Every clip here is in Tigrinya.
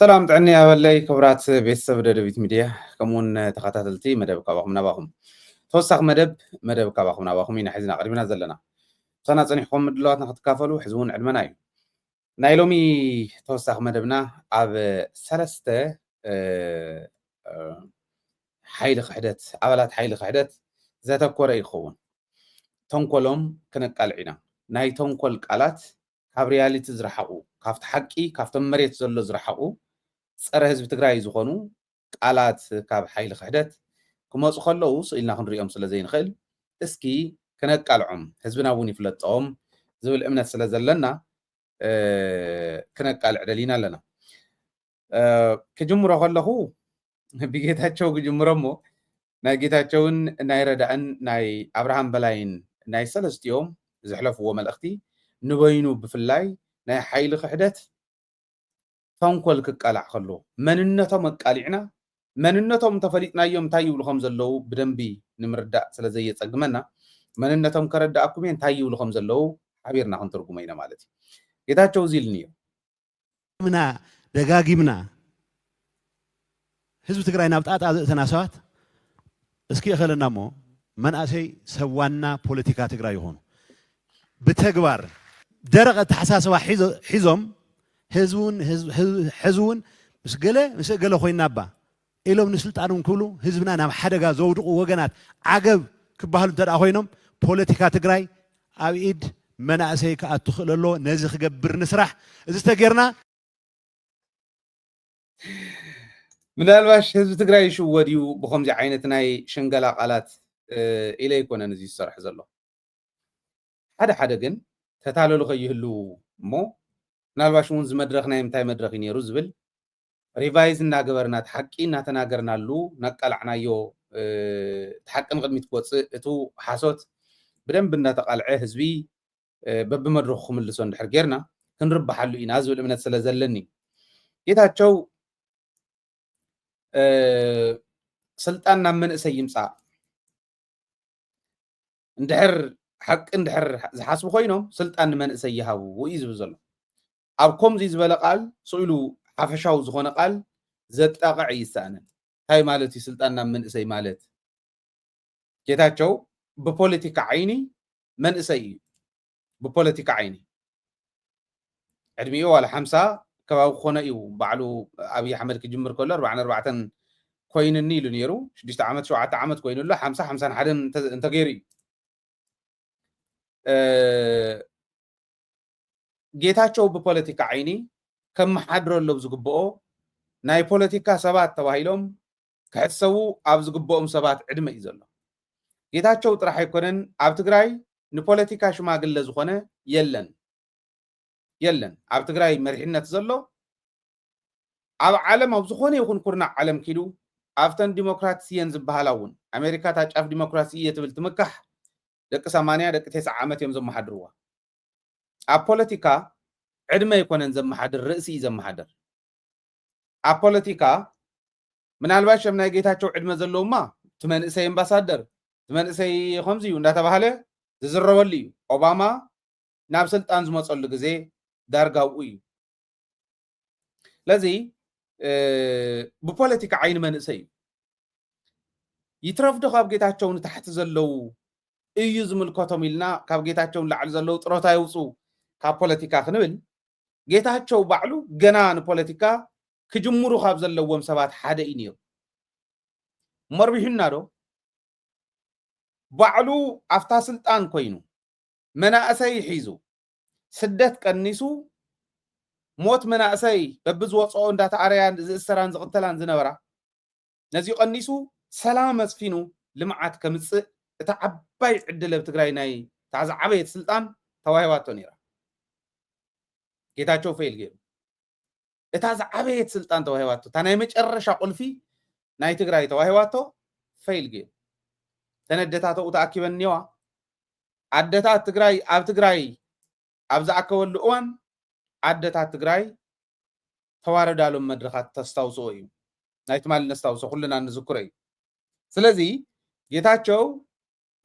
ሰላም ጥዕኒ ኣበለይ ክብራት ቤተሰብ ደደቢት ሚድያ ከምኡውን ተኸታተልቲ መደብ ካባኹም ናባኹም ተወሳኺ መደብ መደብ ካባኹም ናባኹም ኢና ሕዝና ቅድሚና ዘለና ምሳና ፀኒሕኩም ምድለዋትና ክትካፈሉ ሕዚ እውን ዕድመና እዩ ናይ ሎሚ ተወሳኺ መደብና ኣብ ሰለስተ ሓይሊ ክሕደት ኣባላት ሓይሊ ክሕደት ዘተኮረ ይኸውን ተንኮሎም ክንቃልዕ ኢና ናይ ተንኮል ቃላት ካብ ሪያሊቲ ዝረሓቁ ካብቲ ሓቂ ካብቶም መሬት ዘሎ ዝረሓቁ ፀረ ህዝቢ ትግራይ ዝኾኑ ቃላት ካብ ሓይሊ ክሕደት ክመፁ ከለው ስቅ ኢልና ክንሪኦም ስለ ዘይንኽእል እስኪ ክነቃልዖም ህዝብና እውን ይፍለጦም ዝብል እምነት ስለ ዘለና ክነቃልዕ ደሊና ኣለና። ክጅምሮ ከለኹ ብጌታቸው ክጅምሮ እሞ ናይ ጌታቸውን ናይ ረዳእን ናይ ኣብርሃም በላይን ናይ ሰለስቲኦም ዘሕለፍዎ መልእኽቲ ንበይኑ ብፍላይ ናይ ሓይሊ ክሕደት ተንኮል ክቃላዕ ከሎ መንነቶም ኣቃሊዕና መንነቶም እንተፈሊጥናዮም እንታይ ይብሉ ከም ዘለዉ ብደንቢ ንምርዳእ ስለ ዘየፀግመና መንነቶም ከረዳእኩም እየ እንታይ ይብሉ ከም ዘለዉ ሓቢርና ክንትርጉሞ ኢና ማለት እዩ ጌታቸው እዚ ኢልኒ እዩ ደጋጊምና ደጋጊምና ህዝቢ ትግራይ ናብ ጣጣ ዘእተና ሰባት እስኪ እኸለና እሞ መናእሰይ ሰብ ዋና ፖለቲካ ትግራይ ይኾኑ ብተግባር ደረቕ ኣተሓሳስባ ሒዞም ህዝቢ እውን ሕዚ እውን ምስ ገለ ምስ ገለ ኮይና እባ ኢሎም ንስልጣኖም ክብሉ ህዝብና ናብ ሓደጋ ዘውድቑ ወገናት ዓገብ ክበሃሉ እንተድኣ ኮይኖም ፖለቲካ ትግራይ ኣብ ኢድ መናእሰይ ክኣቱ ክእል ኣለዎ። ነዚ ክገብር ንስራሕ። እዚ ተገይርና። ምናልባሽ ህዝቢ ትግራይ ይሽወድ እዩ ብኸምዚ ዓይነት ናይ ሽንገላ ቃላት ኢለ ኣይኮነን እዚ ዝሰርሖ ዘለኹ። ሓደ ሓደ ግን ተታለሉ ከይህልዉ እሞ ምናልባሽ እውን ዝመድረኽ ናይ ምንታይ መድረኽ እዩ ነይሩ ዝብል ሪቫይዝ እናገበርና እቲ ሓቂ እናተናገርናሉ ናቃላዕናዮ እቲ ሓቂ ንቕድሚት ክወፅእ እቱ ሓሶት ብደንቢ እናተቓልዐ ህዝቢ በብመድረኹ ክምልሶ እንድሕር ጌርና ክንርብሓሉ ኢና ዝብል እምነት ስለ ዘለኒ እዩ ጌታቸው ስልጣን ናብ መንእሰይ ይምፃእ እንድሕር ሓቂ እንድሕር ዝሓስቡ ኮይኖም ስልጣን ንመንእሰይ ይሃቡ እዩ ዝብል ዘሎ ኣብ ከምዚ ዝበለ ቃል ስኢሉ ሓፈሻዊ ዝኾነ ቃል ዘጣቕዕ እይሰኣንን እንታይ ማለት እዩ ስልጣን ናብ መንእሰይ ማለት ጌታቸው ብፖለቲካ ዓይኒ መንእሰይ እዩ ብፖለቲካ ዓይኒ ዕድሚኡ ዋላ ሓምሳ ከባቢ ክኾኖ እዩ ባዕሉ ኣብይ ኣሕመድ ክጅምር ከሎ ኣርባዓን ኣርባዕተን ኮይንኒ ኢሉ ነይሩ ሽዱሽተ ዓመት ሸውዓተ ዓመት ኮይኑ ኣሎ ሓምሳ ሓምሳን ሓደን እንተገይሩ እዩ ጌታቸው ብፖለቲካ ዓይኒ ከመሓድረሎም ዝግብኦ ናይ ፖለቲካ ሰባት ተባሂሎም ክሕሰቡ ኣብ ዝግበኦም ሰባት ዕድመ እዩ ዘሎ። ጌታቸው ጥራሕ ኣይኮነን ኣብ ትግራይ ንፖለቲካ ሽማግለ ዝኾነ የለን የለን ኣብ ትግራይ መሪሕነት ዘሎ ኣብ ዓለም ኣብ ዝኾነ ይኹን ኩርናዕ ዓለም ኪዱ ኣብተን ዲሞክራትስ እየን ዝበሃላ እውን ኣሜሪካ እታ ጫፍ ዲሞክራሲ እየ ትብል ትምካሕ ደቂ ሰማንያ ደቂ ቴስዓ ዓመት እዮም ዘመሓድርዋ ኣብ ፖለቲካ ዕድመ ኣይኮነን ዘመሓድር ርእሲ እዩ ዘመሓድር ኣብ ፖለቲካ ምናልባሽ ከም ናይ ጌታቸው ዕድመ ዘለውማ እቲ መንእሰይ ኣምባሳደር እቲ መንእሰይ ከምዚ እዩ እንዳተባሃለ ዝዝረበሉ እዩ ኦባማ ናብ ስልጣን ዝመፀሉ ግዜ ዳርጋብኡ እዩ ስለዚ ብፖለቲካ ዓይኒ መንእሰይ እዩ ይትረፍዶ ካብ ጌታቸው ንታሕቲ ዘለው እዩ ዝምልከቶም ኢልና ካብ ጌታቸው ንላዕሊ ዘለው ጥሮታ የውፅኡ ካብ ፖለቲካ ክንብል ጌታቸው ባዕሉ ገና ንፖለቲካ ክጅምሩ ካብ ዘለዎም ሰባት ሓደ እዩ ነይሩ። መርቢሑና ዶ? ባዕሉ ኣብታ ስልጣን ኮይኑ መናእሰይ ሒዙ ስደት ቀኒሱ ሞት መናእሰይ በብዝወፅኦ እንዳተኣረያን ዝእሰራን ዝቕተላን ዝነበራ ነዚ ቀኒሱ ሰላም ኣስፊኑ ልምዓት ከምፅእ እታ ዓባይ ዕድል ኣብ ትግራይ ናይ እታ ዝዓበየት ስልጣን ተዋሂባቶ ነይራ ጌታቸው ፌል ገይሩ እታ ዝዓበየት ስልጣን ተዋሂባቶ እታ ናይ መጨረሻ ቁልፊ ናይ ትግራይ ተዋሂባቶ ፌል ገይሩ ተነደታተኡ ተኣኪበን እኒዋ ኣደታት ትግራይ ኣብ ትግራይ ኣብ ዝኣከበሉ እዋን ኣደታት ትግራይ ተዋረዳሎም መድረኻት ተስታውስኦ እዩ ናይ ትማሊ ነስታውሶ ኩልና ንዝክሮ እዩ ስለዚ ጌታቸው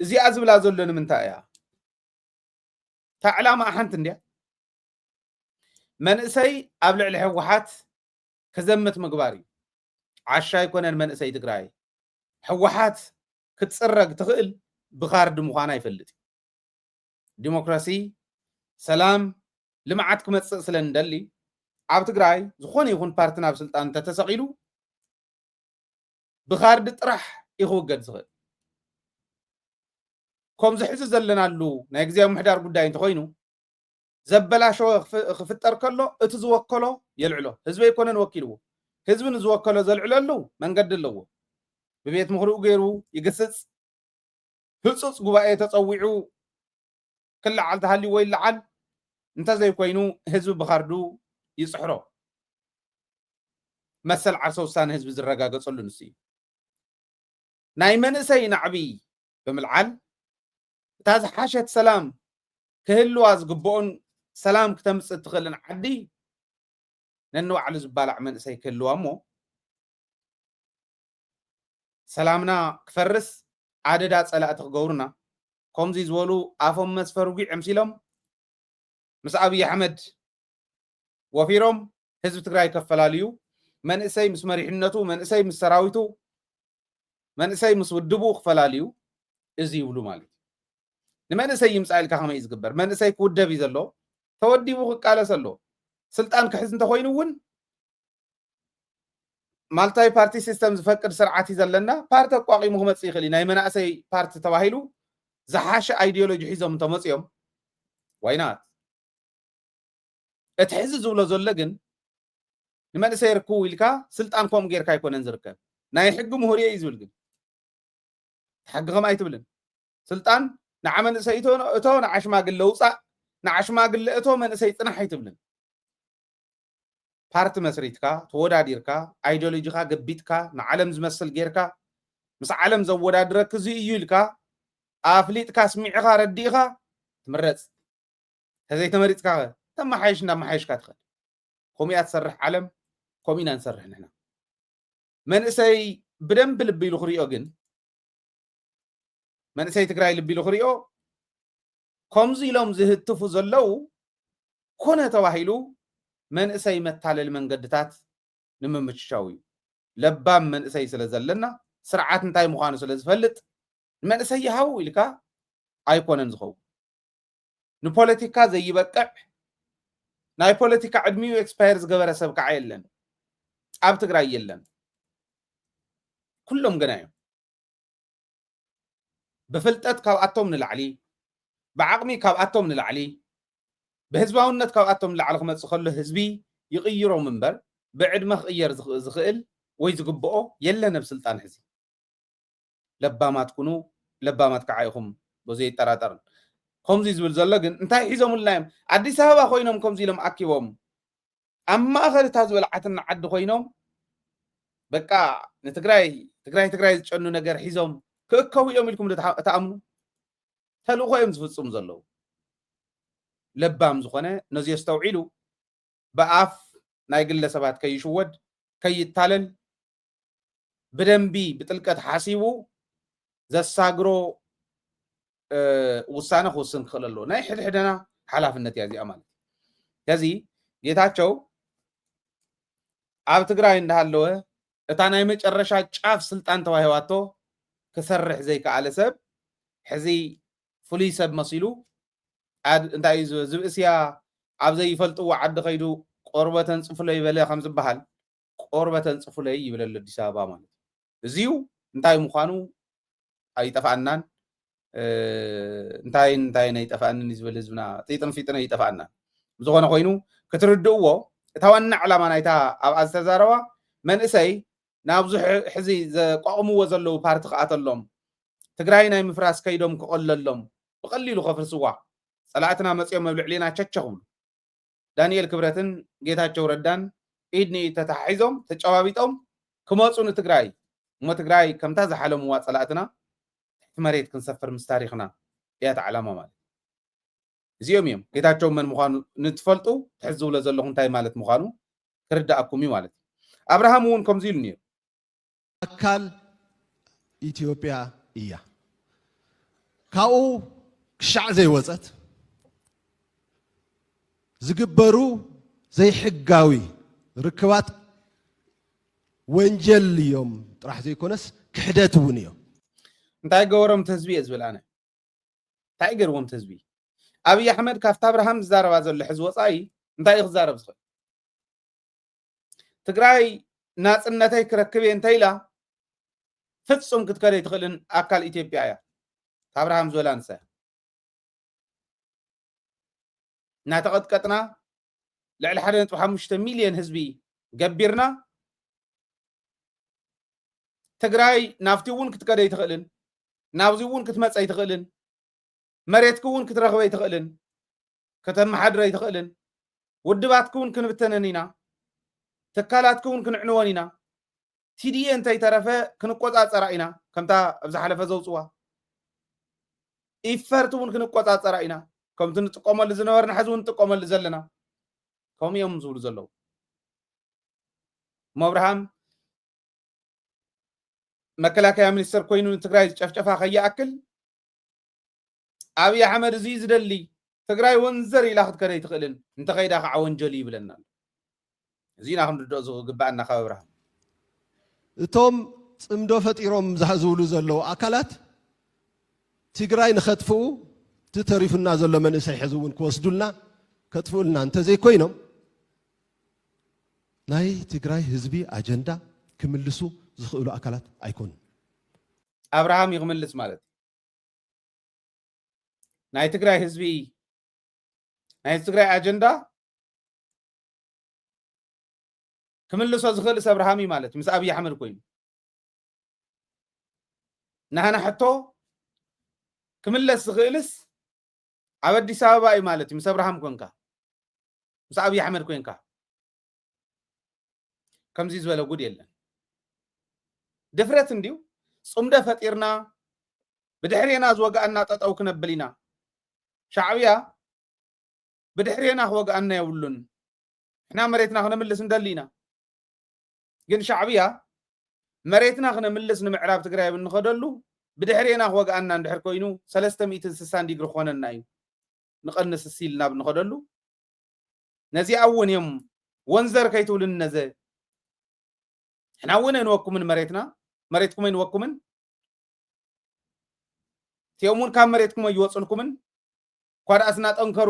እዚኣ ዝብላ ዘሎ ንምንታይ እያ እታ ዕላማኣ ሓንቲ እንድያ መንእሰይ ኣብ ልዕሊ ህወሓት ክዘምት ምግባር እዩ ዓሻ ኣይኮነን መንእሰይ ትግራይ ህወሓት ክትፅረግ ትኽእል ብካርድ ምዃና ይፈልጥ እዩ ዲሞክራሲ፣ ሰላም፣ ልምዓት ክመፅእ ስለ እንደሊ ኣብ ትግራይ ዝኾነ ይኹን ፓርቲ ናብ ስልጣን እንተተሰቒሉ ብካርዲ ጥራሕ እዩ ክውገድ ዝኽእል ከምዚ ሕዚ ዘለናሉ ናይ ግዜ ምሕዳር ጉዳይ እንተኮይኑ ዘበላሸወ ክፍጠር ከሎ እቲ ዝወከሎ የልዕሎ ህዝቢ ኣይኮነን ወኪልዎ ህዝቢ ንዝወከሎ ዘልዕለሉ መንገዲ ኣለዎ ብቤት ምኽሪኡ ገይሩ ይግስፅ ህጹጽ ጉባኤ ተጸዊዑ ክለዓል ተሃልይዎ ይለዓል፣ እንተዘይኮይኑ ህዝቢ ብካርዱ ይጽሕሮ። መሰል ዓርሰ ውሳነ ህዝቢ ዝረጋገጸሉ ንሱ እዩ። ናይ መንእሰይ ናዕቢ ብምልዓል እታ ዝሓሸት ሰላም ክህልዋ ዝግብኦን ሰላም ክተምጽእ እትኽእልን ዓዲ ነንባዕሉ ዝባላዕ መንእሰይ ክህልዋ እሞ ሰላምና ክፈርስ ኣደዳ ጸላእቲ ክገብሩና ከምዚ ዝበሉ ኣፎም መስፈር ጒዕ ኣምሲሎም ምስ ኣብይ ኣሕመድ ወፊሮም ህዝቢ ትግራይ ከፈላልዩ መንእሰይ ምስ መሪሕነቱ መንእሰይ ምስ ሰራዊቱ መንእሰይ ምስ ውድቡ ክፈላልዩ እዚ ይብሉ ማለት እዩ ንመንእሰይ ይምፃእ ኢልካ ከመይ እዩ ዝግበር መንእሰይ ክውደብ እዩ ዘሎ ተወዲቡ ክቃለስ ኣሎ ስልጣን ክሕዝ እንተኮይኑ እውን ማልታይ ፓርቲ ሲስተም ዝፈቅድ ስርዓት እዩ ዘለና ፓርቲ ኣቋቂሙ ክመፅእ ይኽእል እዩ ናይ መናእሰይ ፓርቲ ተባሂሉ ዝሓሸ ኣይዲዮሎጂ ሒዞም እንተመፅኦም ዋይናት እቲ ሕዚ ዝብሎ ዘሎ ግን ንመንእሰይ ርክቡ ኢልካ ስልጣን ከምኡ ጌርካ ኣይኮነን ዝርከብ ናይ ሕጊ ምሁር እየ እዩ ዝብል ግን ሕጊ ከም ኣይትብልን ስልጣን ንዓ መንእሰይ እቶ ንዓ ሽማግለ ውፃእ ንዓ ሽማግለ እቶ መንእሰይ ፅናሕ ኣይትብልን ፓርቲ መስሪትካ ተወዳዲርካ ኣይዶሎጂኻ ገቢጥካ ንዓለም ዝመስል ጌርካ ምስ ዓለም ዘወዳድረኪ እዚ እዩ ኢልካ ኣፍሊጥካ ኣስሚዕኻ ኣረዲእኻ ትምረጽ ተዘይተመሪጽካ ከ ተመሓየሽ እንዳመሓየሽካ ትኸድ ከምኡ እያ ትሰርሕ ዓለም ከምኡ ኢና ንሰርሕ ንሕና መንእሰይ ብደንብ ልቢ ኢሉ ክሪኦ ግን መንእሰይ ትግራይ ልቢ ኢሉ ክሪኦ ከምዚ ኢሎም ዝህትፉ ዘለው ኮነ ተባሂሉ መንእሰይ መታለሊ መንገድታት ንምምችቻው እዩ። ለባም መንእሰይ ስለ ዘለና ስርዓት እንታይ ምዃኑ ስለ ዝፈልጥ ንመንእሰይ ይሃቡ ኢልካ ኣይኮነን ዝኸውን። ንፖለቲካ ዘይበቅዕ ናይ ፖለቲካ ዕድሚኡ ኤክስፓየር ዝገበረ ሰብ ከዓ የለን፣ ኣብ ትግራይ የለን። ኩሎም ገና እዮም። ብፍልጠት ካብኣቶም ንላዕሊ፣ ብዓቕሚ ካብኣቶም ንላዕሊ፣ ብህዝባውነት ካብኣቶም ንላዕሊ ክመጽእ ከሎ ህዝቢ ይቕይሮም እምበር ብዕድመ ክቕየር ዝኽእል ወይ ዝግብኦ የለን ኣብ ስልጣን ሕዚ። ለባማት ኩኑ ለባማት ካዓ ኢኹም በዙየይጠራጠርን። ከምዙይ ዝብል ዘሎ ግን እንታይ ሒዞምልና እዮም ኣዲስ ኣበባ ኮይኖም ከምዙይ ኢሎም ኣኪቦም ኣብ ማእኸል እታ ዝበልዓትና ዓዲ ኮይኖም በቃ ንትግራይ ትግራይ ትግራይ ዝጨኑ ነገር ሒዞም ክእከቡ እዮም ኢልኩም እትኣምኑ ተልእኾ እዮም ዝፍፅሙ ዘለዉ። ለባም ዝኾነ ነዚ ኣስተውዒሉ ብኣፍ ናይ ግለሰባት ከይሽወድ ከይታለል ብደንቢ ብጥልቀት ሓሲቡ ዘሳግሮ ውሳነ ክውስን ክኽእል ኣለዎ ናይ ሕድሕደና ሓላፍነት እያ እዚኣ ማለት ከዚ ጌታቸው ኣብ ትግራይ እንዳሃለወ እታ ናይ መጨረሻ ጫፍ ስልጣን ተዋሂዋቶ ክሰርሕ ዘይከኣለ ሰብ ሕዚ ፍሉይ ሰብ መሲሉ እንታይ እዩ ዝብእስያ ኣብ ዘይፈልጥዎ ዓዲ ከይዱ ቆርበተን ፅፍሎ ይበለ ከም ዝበሃል ቆርበት ኣንጽፉለይ ይብል ኣሎ ኣዲስ ኣበባ ማለት እዩ። እዚዩ እንታይ ምዃኑ ኣይጠፍኣናን እንታይን እንታይን ኣይጠፍኣንን እዩ ዝበል ህዝብና ጢጥን ፊጥን ኣይጠፍኣናን ብዝኾነ ኮይኑ ክትርድእዎ እታ ዋና ዕላማ ናይታ ኣብኣ ዝተዛረባ መንእሰይ ናብዚ ሕዚ ዘቋቑምዎ ዘለዉ ፓርቲ ክኣተሎም ትግራይ ናይ ምፍራስ ከይዶም ክቐለሎም ብቐሊሉ ከፍርስዋ ጸላእትና መጺኦም ኣብ ልዕሊና ቸቸ ክብሉ ዳኒኤል ክብረትን ጌታቸው ረዳን ኢድ ንኢድ ተተሓሒዞም ተጨባቢጦም ክመፁ ንትግራይ እሞ ትግራይ ከምታ ዝሓለምዋ ፀላእትና ትሕቲ መሬት ክንሰፍር ምስ ታሪኽና እያ እቲ ዓላማ ማለት እዚኦም እዮም ጌታቸው መን ምዃኑ ንትፈልጡ ትሕዝ ዝብሎ ዘለኹ እንታይ ማለት ምዃኑ ክርዳኣኩም እዩ ማለት እዩ ኣብርሃም እውን ከምዚ ኢሉ ነይሩ ኣካል ኢትዮጵያ እያ። ካብኡ ክሻዕ ዘይወፀት ዝግበሩ ዘይሕጋዊ ርክባት ወንጀል እዮም ጥራሕ ዘይኮነስ ክሕደት እውን እዮም። እንታይ ገበሮም ተህዝቢ እየ ዝብል ኣነ እንታይ ገርዎም ተህዝቢ ኣብይ ኣሕመድ ካብቲ ኣብርሃም ዝዛረባ ዘሎ ሕዚ ወፃኢ እንታይ እዩ ክዛረብ ዝኽእል ትግራይ ናፅነተይ ክረክብ እየ እንተኢላ ፍፁም ክትከደ ኣይትኽእልን ኣካል ኢትዮጵያ እያ ኣብርሃም ዝበላ ንሳ እናተቐጥቀጥና ልዕሊ ሓደ ነጥቢ ሓሙሽተ ሚልዮን ህዝቢ ገቢርና ትግራይ ናብቲ እውን ክትከደ ኣይትኽእልን ናብዚ እውን ክትመፀ ኣይትኽእልን መሬትኪ እውን ክትረኽቢ ኣይትኽእልን፣ ከተመሓድሪ ኣይትኽእልን፣ ውድባትኪ እውን ክንብተነን ኢና፣ ትካላትኪ እውን ክንዕንወን ኢና፣ ቲዲኤ እንተይተረፈ ክንቆፃፀራ ኢና፣ ከምታ ኣብ ዝሓለፈ ዘውፅዋ ኢፈርት እውን ክንቆፃፀራ ኢና፣ ከምቲ ንጥቀመሉ ዝነበርና ሕዚ እውን ንጥቀመሉ ዘለና ከምኡ እዮም ዝብሉ ዘለዉ ሞብርሃም መከላከያ ሚኒስተር ኮይኑ ንትግራይ ዝጨፍጨፋ ከይኣክል ኣብይ ኣሕመድ እዙይ ዝደሊ ትግራይ ወንዘር ኢላ ክትከድ ኣይትኽእልን እንተኸይዳ ከዓ ወንጀል ይብለና ኣሎ እዙይ ኢና ክንርድኦ ዝግበኣና ካብ ኣብርሃም እቶም ፅምዶ ፈጢሮም ዝብሉ ዘለዉ ኣካላት ትግራይ ንኸጥፍኡ እቲ ተሪፉና ዘሎ መንእሰይ ሕዚ እውን ክወስዱልና ከጥፍኡልና እንተዘይኮይኖም ናይ ትግራይ ህዝቢ ኣጀንዳ ክምልሱ ዝኽእሉ ኣካላት ኣይኮኑን። ኣብርሃም እዩ ክምልስ ማለት ናይ ትግራይ ህዝቢ ናይ ትግራይ ኣጀንዳ ክምልሶ ዝኽእል ሰብ ረሃም እዩ ማለት ምስ ኣብዪ ኣሕመድ ኮይኑ ናህና ሕቶ ክምለስ ዝኽእልስ ኣብ ኣዲስ ኣበባ እዩ ማለት እዩ ምስ ኣብርሃም ኮንካ ምስ ኣብዪ ኣሕመድ ኮንካ ከምዚ ዝበለ ጉድ የለን ድፍረት እንድዩ ፅምዶ ፈጢርና ብድሕሬና ዝወግኣና ጠጠው ክነብል ኢና ሻዕብያ ብድሕሬና ክወግኣና የብሉን ንሕና መሬትና ክነምልስ እንደሊ ኢና ግን ሻዕብያ መሬትና ክነምልስ ንምዕራብ ትግራይ ኣብ እንኸደሉ ብድሕሬና ክወግኣና እንድሕር ኮይኑ 360 ዲግሪ ክኾነና እዩ ንቐንስ ሲል ናብ ንኸደሉ ነዚኣ እውን እዮም ወንዘር ከይትብሉኒ ነዘ ንሕና እውን ኣይንወኩምን መሬትና መሬትኩም ኣይንወኩምን እቲኦም እውን ካብ መሬትኩም ኣይወፅልኩምን እኳ ደኣስ እናጠንከሩ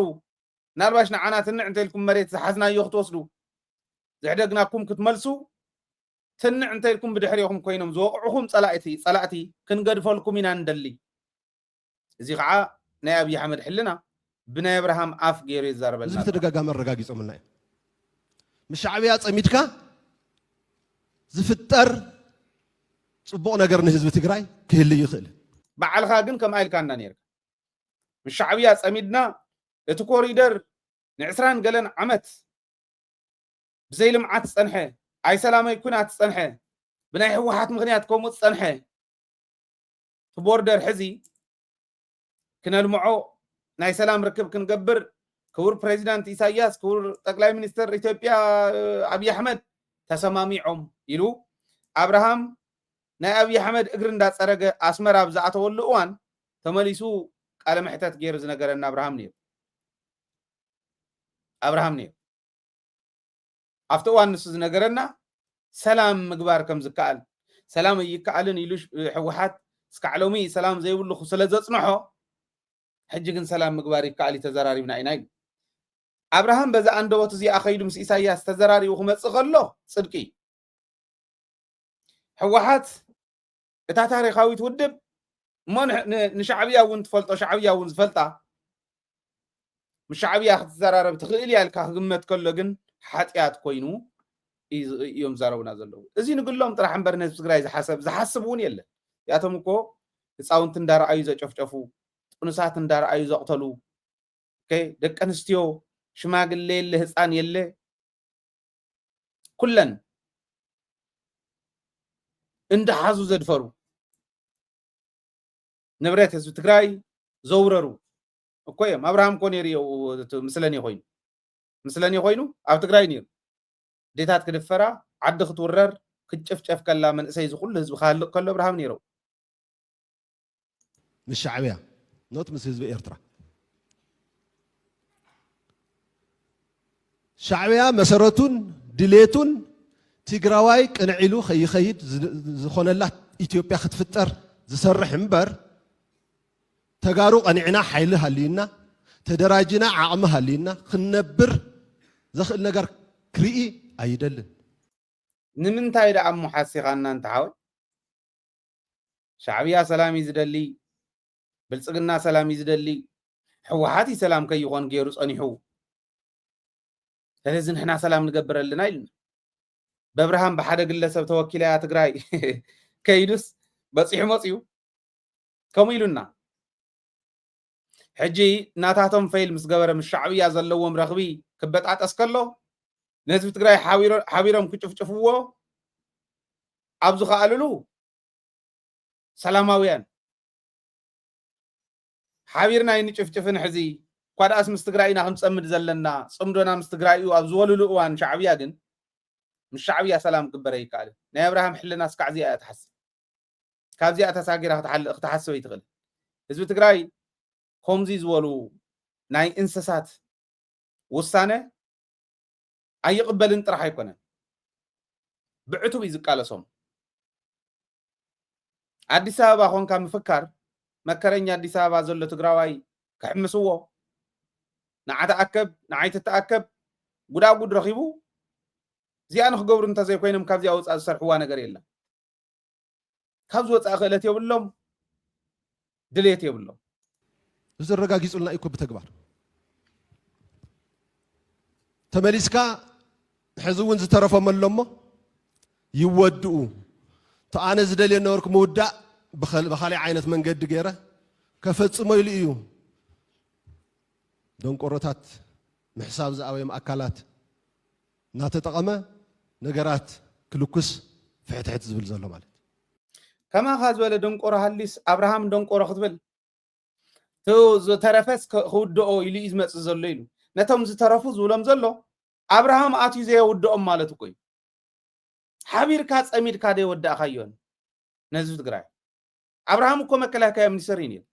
ምናልባሽ ንዓና ትንዕ እንተኢልኩም መሬት ዝሓዝናዮ ክትወስዱ ዝሕደግናኩም ክትመልሱ ትንዕ እንተኢልኩም ብድሕሪኹም ኮይኖም ዝወቕዕኹም ፀላእቲ ፀላእቲ ክንገድፈልኩም ኢና ንደሊ እዚ ኸዓ ናይ ኣብይ ኣሕመድ ሕልና ብናይ ኣብርሃም ኣፍ ገይሩ የዛርበልና ኣሎ። እዚ ብተደጋጋሚ ኣረጋጊፆምልና እዮም። ምስ ሻዕብያ ፀሚድካ ዝፍጠር ፅቡቕ ነገር ንህዝቢ ትግራይ ክህሊ ይኽእል። ባዕልኻ ግን ከምኣ ኢልካና ነይርካ። ምስ ሻዕብያ ፀሚድና እቲ ኮሪደር ንዕስራን ገለን ዓመት ብዘይ ልምዓት ዝፀንሐ ኣይሰላመይ ኩናት ዝፀንሐ ብናይ ህወሓት ምኽንያት ከምኡ ዝፀንሐ እቲ ቦርደር ሕዚ ክነልምዖ ናይ ሰላም ርክብ ክንገብር ክቡር ፕሬዚዳንት ኢሳያስ ክቡር ጠቅላይ ሚኒስትር ኢትዮጵያ ኣብዪ ኣሕመድ ተሰማሚዖም ኢሉ ኣብርሃም ናይ ኣብዪ ኣሕመድ እግሪ እንዳፀረገ ኣስመራ ኣብ ዝኣተወሉ እዋን ተመሊሱ ቃለ መሕተት ገይሩ ዝነገረና ኣብርሃም ነይሩ ኣብርሃም ነይሩ ኣብቲ እዋን ንሱ ዝነገረና ሰላም ምግባር ከም ዝከኣል፣ ሰላም ኣይከኣልን ኢሉ ህወሓት እስካዕ ሎሚ ሰላም ዘይብሉ ስለ ዘፅንሖ ሕጂ ግን ሰላም ምግባር ይከኣል እዩ ተዘራሪብና ኢና ኢሉ። ኣብርሃም በዛ ኣንደበቱ እዚኣ ከይዱ ምስ ኢሳያስ ተዘራሪቡ ክመፅእ ከሎ ፅድቂ እዩ። ህወሓት እታ ታሪኻዊት ውድብ እሞ ንሻዕብያ እውን ትፈልጦ ሻዕብያ እውን ዝፈልጣ ምስ ሻዕብያ ክትዘራረብ ትኽእል እያ ኢልካ ክግመት ከሎ ግን ሓጢኣት ኮይኑ እዮም ዝዛረቡና ዘለዉ እዚ ንግሎም ጥራሕ እምበር ንህዝቢ ትግራይ ዝሓሰብ ዝሓስብ እውን የለን እዚኣቶም እኮ ህፃውንቲ እንዳረኣዩ ዘጨፍጨፉ ጥኑሳት እንዳረኣዩ ዘቕተሉ ደቂ ኣንስትዮ ሽማግለ የለ ህፃን የለ ኩለን እንዳሓዙ ዘድፈሩ ንብረት ህዝቢ ትግራይ ዘውረሩ እኮ እዮም ኣብርሃም እኮ ነይሩ ምስለኔ ኮይኑ ምስለኔ ኮይኑ ኣብ ትግራይ ነይሩ ዴታት ክድፈራ ዓዲ ክትውረር ክትጨፍጨፍ ከላ መንእሰይ ዝኩሉ ህዝቢ ክሃልቅ ከሎ ኣብርሃም ነይረው ምስ ሻዕብያ ኖት ምስ ህዝቢ ኤርትራ ሻዕብያ መሰረቱን ድሌቱን ትግራዋይ ቅንዕ ኢሉ ከይኸይድ ዝኾነላ ኢትዮጵያ ክትፍጠር ዝሰርሕ እምበር ተጋሩ ቀኒዕና ሓይሊ ሃልዩና ተደራጅና ዓቕሚ ሃልዩና ክንነብር ዘኽእል ነገር ክርኢ ኣይደልን ንምንታይ ደኣ እሞ ሓሲኻና እንተ ሓወይ ሻዕብያ ሰላም እዩ ዝደሊ ብልጽግና ሰላም እዩ ዝደሊ ሕወሓት እዩ ሰላም ከይኾን ገይሩ ጸኒሑ ስለዚ ንሕና ሰላም ንገብር ኣለና ኢሉና በብርሃን ብሓደ ግለሰብ ተወኪላ እያ ትግራይ ከይዱስ በፂሑ መፅኡ ከምኡ ኢሉና ሕጂ ናታቶም ፈይል ምስ ገበረ ምስ ሻዕብያ ዘለዎም ረኽቢ ክበጣጠስ ከሎ ንህዝቢ ትግራይ ሓቢሮም ክጭፍጭፍዎ ኣብ ዝኸኣልሉ ሰላማውያን ሓቢርና ይንጭፍጭፍን ሕዚ እኳ ደኣስ ምስ ትግራይ ኢና ክንፀምድ ዘለና ፅምዶና ምስ ትግራይ እዩ ኣብ ዝበሉሉ እዋን ሻዕብያ ግን ምስ ሻዕብያ ሰላም ክግበር ኣይከኣልን ናይ ኣብርሃም ሕልና እስካዕ እዚኣ እያ ትሓስብ ካብዚኣ ተሳጊራ ክትሓልእ ክትሓስብ ኣይትኽእል ህዝቢ ትግራይ ከምዚ ዝበሉ ናይ እንስሳት ውሳነ ኣይቕበልን ጥራሕ ኣይኮነን ብዕቱብ እዩ ዝቃለሶም ኣዲስ ኣበባ ኮንካ ምፍካር መከረኛ ኣዲስ ኣበባ ዘሎ ትግራዋይ ክሕምስዎ ንዓ ተኣከብ ንዓይ ትተኣከብ ጉዳጉድ ረኺቡ እዚኣ ንክገብሩ እንተዘይኮይኖም ካብዚኣ ወፃእ ዝሰርሕዋ ነገር የለን ካብዚ ወፃኢ ክእለት የብሎም ድሌት የብሎም። እዚ ኣረጋጊፁልና እዩ እኮ ብተግባር ተመሊስካ ሕዚ እውን ዝተረፎም ኣሎ እሞ ይወድኡ እቲ ኣነ ዝደልዮ ነበርኩ ምውዳእ ብካሊእ ዓይነት መንገዲ ገይረ ከፈፅሞ ኢሉ እዩ ደንቆሮታት ምሕሳብ ዝኣበዮም ኣካላት እናተጠቐመ ነገራት ክልኩስ ፍሕትሕት ዝብል ዘሎ ማለት እዩ። ከማኻ ዝበለ ደንቆሮ ሃልዩስ ኣብርሃም ደንቆሮ ክትብል እቲ ዝተረፈስ ክውድኦ ኢሉ እዩ ዝመፅእ ዘሎ ኢሉ ነቶም ዝተረፉ ዝብሎም ዘሎ ኣብርሃም ኣትዩ ዘየውድኦም ማለት እኮ እዩ። ሓቢርካ ፀሚድካ ደይወዳእካዮን ነህዝቢ ትግራይ ኣብርሃም እኮ መከላከያ ሚኒስተር እዩ ነይሩ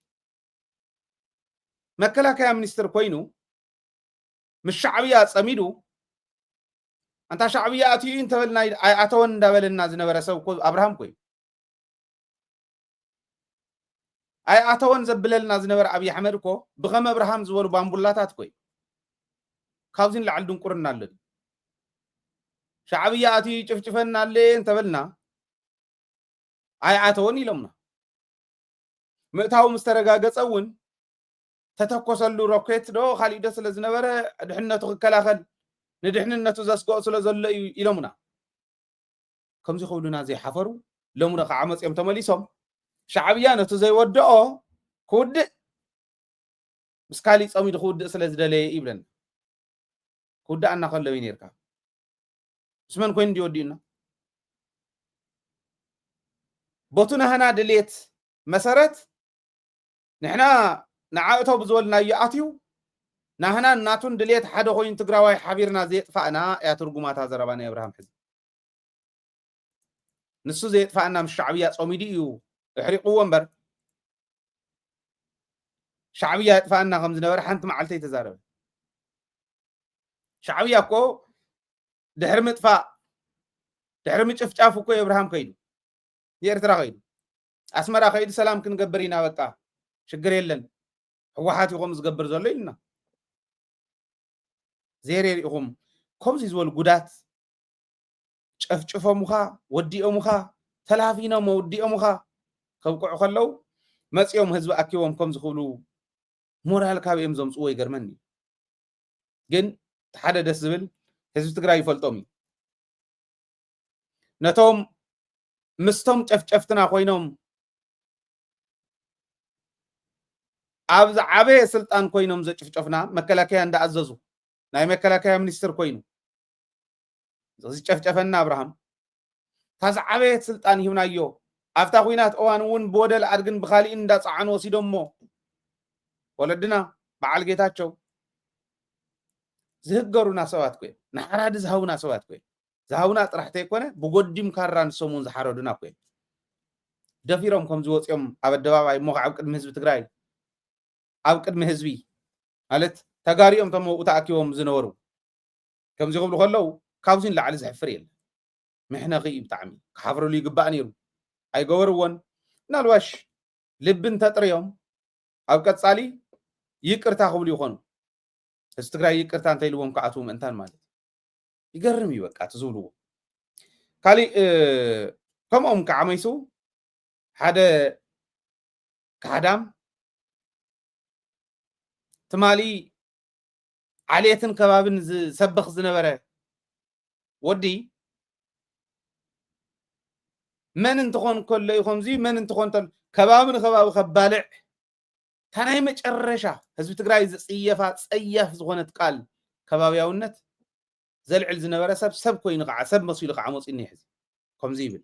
መከላከያ ሚኒስትር ኮይኑ ምስ ሻዕብያ ፀሚዱ ኣንታ ሻዕብያ ኣትዩ እንተበልና ኣይኣተወን እንዳበለና ዝነበረ ሰብ እኮ ኣብርሃም ኮይ ኣይኣተወን ዘብለልና ዝነበረ ኣብዪ ኣሕመድ እኮ ብከም ኣብርሃም ዝበሉ ባምቡላታት ኮይ ካብዚ ንላዕሊ ድንቁርና ኣሎ ሻዕብያ ኣትዩ ጭፍጭፈና ኣለ እንተበልና ኣይኣተወን ኢሎምና ምእታዊ ምስ ተረጋገፀ እውን ተተኮሰሉ ሮኬት ዶ ካሊእ ዶ ስለ ዝነበረ ድሕነቱ ክከላኸል ንድሕንነቱ ዘስግኦ ስለ ዘሎ እዩ ኢሎሙና ከምዚ ክብሉና ዘይሓፈሩ ሎሚ ዶ ከዓ መፅኦም ተመሊሶም ሻዕብያ ነቲ ዘይወድኦ ክውድእ ምስ ካሊእ ፀሚዱ ክውድእ ስለ ዝደለየ ይብለና ክውድኣና ከሎ እዩ ነርካ ምስ መን ኮይኑ እንዲ ወዲኡና ቦቱ ናህና ድሌት መሰረት ንሕና ንዓእተው ብዝበልናዮ ኣትዩ ናህናን ናቱን ድልየት ሓደ ኮይኑ ትግራዋይ ሓቢርና ዘየጥፋእና እያ ትርጉማ እታ ዘረባ ናይ ኣብርሃም ሕዚ ንሱ ዘየጥፋእና ምስ ሻዕብያ ጾሚዱ እዩ እሕሪቕዎ እምበር ሻዕብያ የጥፋእና ከም ዝነበረ ሓንቲ መዓልቲ ኣይተዛረበ ሻዕብያ እኮ ድሕሪ ምጥፋእ ድሕሪ ምጭፍጫፍ እኮ የብርሃም ከይዱ ንኤርትራ ከይዱ ኣስመራ ከይዱ ሰላም ክንገብር ኢና በቃ ሽግር የለን ሕወሓት እዩ ከምኡ ዝገብር ዘሎ ኢሉና ዘይሬር ኢኹም ከምዚ ዝበሉ ጉዳት ጨፍጭፎምኻ ወዲኦምኻ ተላፊኖም ወዲኦምኻ ከብቅዑ ከለው መፂኦም ህዝቢ ኣኪቦም ከም ዝኽብሉ ሞራል ካብ እዮም ዘምፅዎ ይገርመኒ ግን ሓደ ደስ ዝብል ህዝቢ ትግራይ ይፈልጦም እዩ ነቶም ምስቶም ጨፍጨፍትና ኮይኖም ኣብ ዝዓበየ ስልጣን ኮይኖም ዘጭፍጨፍና መከላከያ እንዳኣዘዙ ናይ መከላከያ ሚኒስትር ኮይኑ ዝጨፍጨፈና ኣብርሃም እታ ዝዓበየት ስልጣን ሂብናዮ ኣብታ ኩናት እዋን እውን ብወደል ኣድግን ብካሊእን እንዳፀዓኑ ወሲዶሞ ወለድና በዓል ጌታቸው ዝህገሩና ሰባት ኮይኖም ንሓራዲ ዝሃቡና ሰባት ኮይኖም ዝሃቡና ጥራሕ ተይኮነ ብጎዲም ካራ ንሶምውን ዝሓረዱና እኮ እዮም ደፊሮም ከምዚ ወፂኦም ኣብ ኣደባባይ እሞ ኣብ ቅድሚ ህዝቢ ትግራይ ኣብ ቅድሚ ህዝቢ ማለት ተጋሪኦም ቶም ኣብኡ ተኣኪቦም ዝነበሩ ከምዚ ክብሉ ከለዉ ካብዚ ንላዕሊ ዘሕፍር የለ ምሕነኺ እዩ ብጣዕሚ ክሓፍርሉ ይግባእ ነይሩ ኣይገበርዎን ምናልባሽ ልቢ እንተጥርዮም ኣብ ቀፃሊ ይቅርታ ክብሉ ይኾኑ ህዝቢ ትግራይ ይቅርታ እንተኢልዎም ክኣትዉ ምእንታን ማለት ይገርም እዩ በቃ እቲ ዝብልዎ ካሊእ ከምኦም ከዓ መይሱ ሓደ ካሕዳም ትማሊ ዓሌትን ከባብን ዝሰብኽ ዝነበረ ወዲ መን እንትኾን ከሎ እዩ ከምዚ መን እንትኾን ከባቢ ንከባቢ ከባልዕ እታ ናይ መጨረሻ ህዝቢ ትግራይ ዝፅየፋ ፀያፍ ዝኾነት ቃል ከባብያውነት ዘልዕል ዝነበረ ሰብ ሰብ ኮይኑ ከዓ ሰብ መሲሉ ከዓ መፂኡ እኒሀ ሕዚ ከምዚ ይብል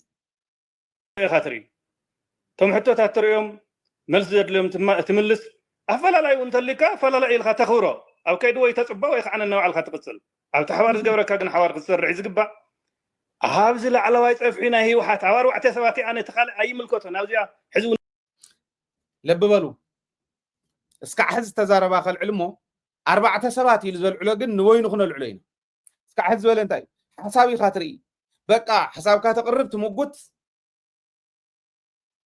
ኢኻ ትርኢ እቶም ሕቶታት ትርእዮም መልሲ ዘድልዮም ትምልስ ኣፈላላይ እውን እንተልዩካ ኣፈላላይ ኢልካ ተኽብሮ ኣብ ከይዲ ወይ ተፅባ ወይ ከዓ ነናባዕልካ ትቕፅል ኣብቲ ሓባር ዝገብረካ ግን ሓባር ክትሰርዕ እዩ ዝግባእ ኣብዚ ላዕለዋይ ፀፍሒ ናይ ህወሓት ኣብ ኣርባዕተ ሰባት እያ ነቲ ካልእ ኣይምልከቶን ኣብዚኣ ሕዚ ለቢ በሉ እስካዕ ሕዚ ዝተዛረባ ከልዕል እሞ ኣርባዕተ ሰባት ኢሉ ዘልዕሎ ግን ንበይኑ ክነልዕሎ ኢና እስካዕ ሕዚ ዝበለ እንታይ እዩ ሓሳብ ኢኻ ትርኢ በቃ ሓሳብካ ተቕርብ ትምጉት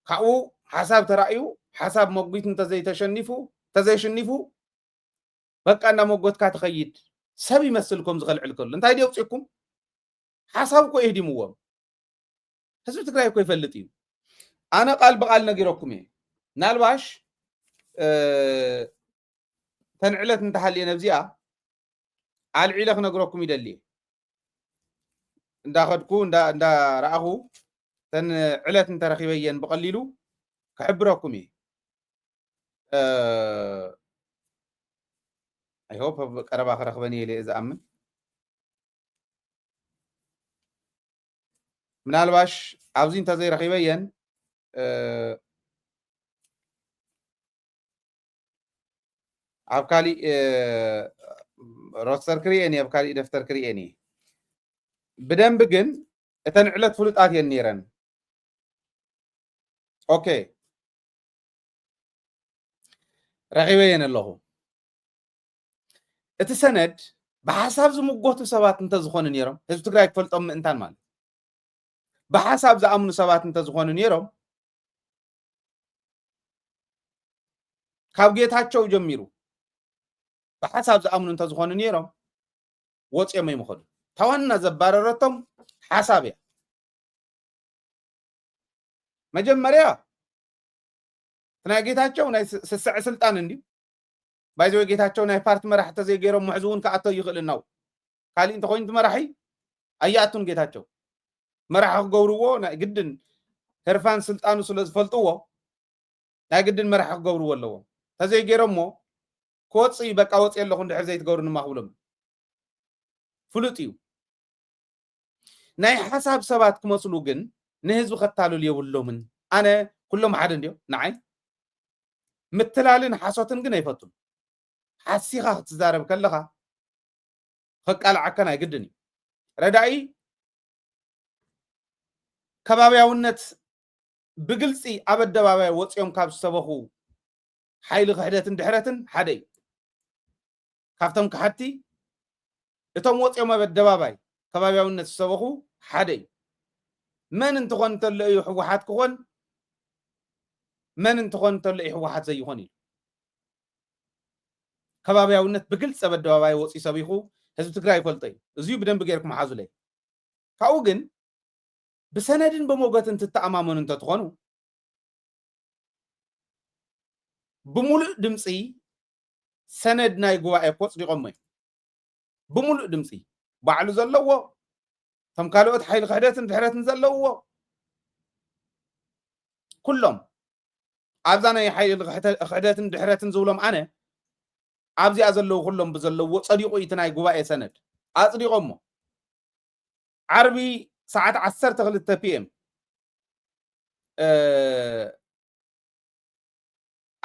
ካብኡ ሓሳብ ተራእዩ ሓሳብ መጒት እንተዘይተሸኒፉ ተዘይሽኒፉ በቃ እናመጎትካ ትኸይድ ሰብ ይመስል ከም ዝኸልዕል ከሎ እንታይ ደውፅኩም ሓሳብ እኮ የህዲምዎም ህዝቢ ትግራይ እኮ ይፈልጥ እዩ ኣነ ቃል ብቃል ነጊረኩም እየ ናልባሽ ተንዕለት እንተሃልየ ነብዚኣ ኣልዒለ ክነግረኩም ይደሊ እየ እንዳኸድኩ እንዳረኣኹ ተን ዕለት እንተረኪበየን ብቀሊሉ ክሕብረኩም እየ ኣይሆፕ ቀረባ ክረክበን እየ ዝኣምን ምናልባሽ ኣብዚ እንተዘይረኺበየን ኣብ ካሊእ ሮስተር ክርኤን እየ ኣብ ካሊእ ደፍተር ክርኤን እየ ብደንብ ግን እተን ዕለት ፍሉጣት እየን ነይረን ኦኬ ረኺበየን ኣለኹ እቲ ሰነድ ብሓሳብ ዝምጎቱ ሰባት እንተዝኾኑ ነይሮም ህዝቢ ትግራይ ክፈልጦም ምእንታን ማለት ብሓሳብ ዝኣምኑ ሰባት እንተዝኾኑ ነይሮም ካብ ጌታቸው ጀሚሩ ብሓሳብ ዝኣምኑ እንተዝኾኑ ነይሮም ወፂኦም ይምኸዱ ታዋና ዘባረረቶም ሓሳብ እያ መጀመርያ ናይ ጌታቸው ናይ ስስዐ ስልጣን እንድዩ ባይ ዘ ዌይ ጌታቸው ናይ ፓርቲ መራሒ ተዘይ ገይሮሞ ሕዚ እውን ክኣቶ ኣይኽእልን ናው ካሊእ እንተኮይኑ እቲ መራሒ ኣይኣቱን ጌታቸው መራሒ ክገብርዎ ናይ ግድን ህርፋን ስልጣኑ ስለ ዝፈልጥዎ ናይ ግድን መራሒ ክገብርዎ ኣለዎም ተዘይ ገይሮሞ ክወፅእ እዩ በቃ ወፅእ ኣለኹ እንድሕር ዘይትገብሩ ድማ ክብሎም ፍሉጥ እዩ ናይ ሓሳብ ሰባት ክመስሉ ግን ንህዝቢ ከታልሉ የብሎምን ኣነ ኩሎም ሓደ እንድዮ ንዓይ ምትላልን ሓሶትን ግን ኣይፈቱን ሓሲኻ ክትዛረብ ከለኻ ከቃልዓከን ኣይግድን እዩ ረዳኢ ከባብያውነት ብግልፂ ኣብ ኣደባባይ ወፂኦም ካብ ዝሰበኹ ሓይሊ ክሕደትን ድሕረትን ሓደ እዩ ካብቶም ከሓድቲ እቶም ወጽዮም ኣብ ኣደባባይ ከባብያውነት ዝሰበኹ ሓደ እዩ። መን እንትኾን እንተሎ እዩ ህወሓት ክኾን መን እንትኾን እንተሎ እዩ ህወሓት ዘይኾን ኢሉ ከባብያውነት ብግልፂ ኣብ ኣደባባይ ወፂኡ ሰቢኹ ህዝቢ ትግራይ ይፈልጦ እዩ። እዚዩ ብደንቢ ጌርኩም ሓዙለይ። ካብኡ ግን ብሰነድን ብሞገትን ትተኣማመኑ እንተትኾኑ ብምሉእ ድምፂ ሰነድ ናይ ጉባኤ እኮ ኣጽዲቖሞ እዮም ብምሉእ ድምፂ ባዕሉ ዘለዎ እቶም ካልኦት ሓይሊ ክሕደትን ድሕረትን ዘለዎ ኩሎም ኣብዛ ናይ ሓይሊ ክሕደትን ድሕረትን ዝብሎም ኣነ ኣብዚኣ ዘለዉ ኩሎም ብዘለዎ ፀዲቑ እቲ ናይ ጉባኤ ሰነድ ኣፅዲቖሞ ዓርቢ ሰዓት 12 ፒኤም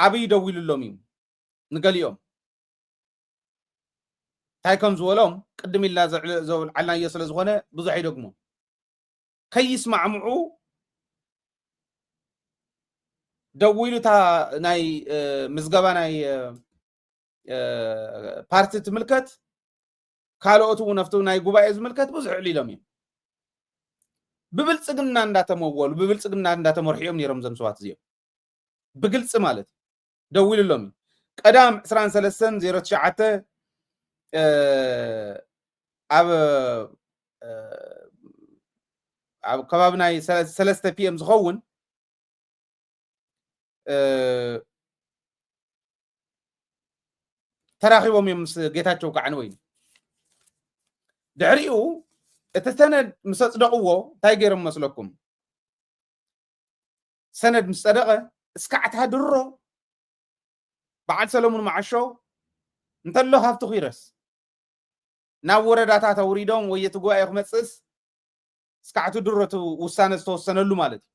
ዓብይ ደዊሉሎም እዩ ንገሊኦም እንታይ ከም ዝበሎም ቅድም ኢልና ዘውልዓልናዮ ስለ ዝኾነ ብዙሕ ኣይደግሞን ከይስማዕምዑ ደዊሉ እታ ናይ ምዝገባ ናይ ፓርቲ ትምልከት ካልኦት እውን ኣብቲ ናይ ጉባኤ ዝምልከት ብዙሕ ዕሊሎም እዮም ብብልፅግና እንዳተመወሉ ብብልፅግና እንዳተመርሑ እዮም ነይሮም እዞም ሰባት እዚኦም ብግልፂ ማለት እዩ ደዊሉሎም እዩ ቀዳም 2309 ኣብ ኣብ ከባቢ ናይ ሰለስተ ፒኤም ዝኸውን ተራኺቦም እዮም ምስ ጌታቸው ከዓ ንወይኒ ድሕሪኡ እቲ ሰነድ ምስ ኣፅደቕዎ እንታይ ገይሮም መስለኩም ሰነድ ምስ ጸደቐ እስካዕታ ድሮ በዓል ሰለሙን መዓሾ እንተሎ ሃብቲ ኲረስ ናብ ወረዳታት ኣውሪዶም ወይ እቲ ጉባኤ ክመፅእስ እስካዕቲ ድሮ እቲ ውሳነ ዝተወሰነሉ ማለት እዩ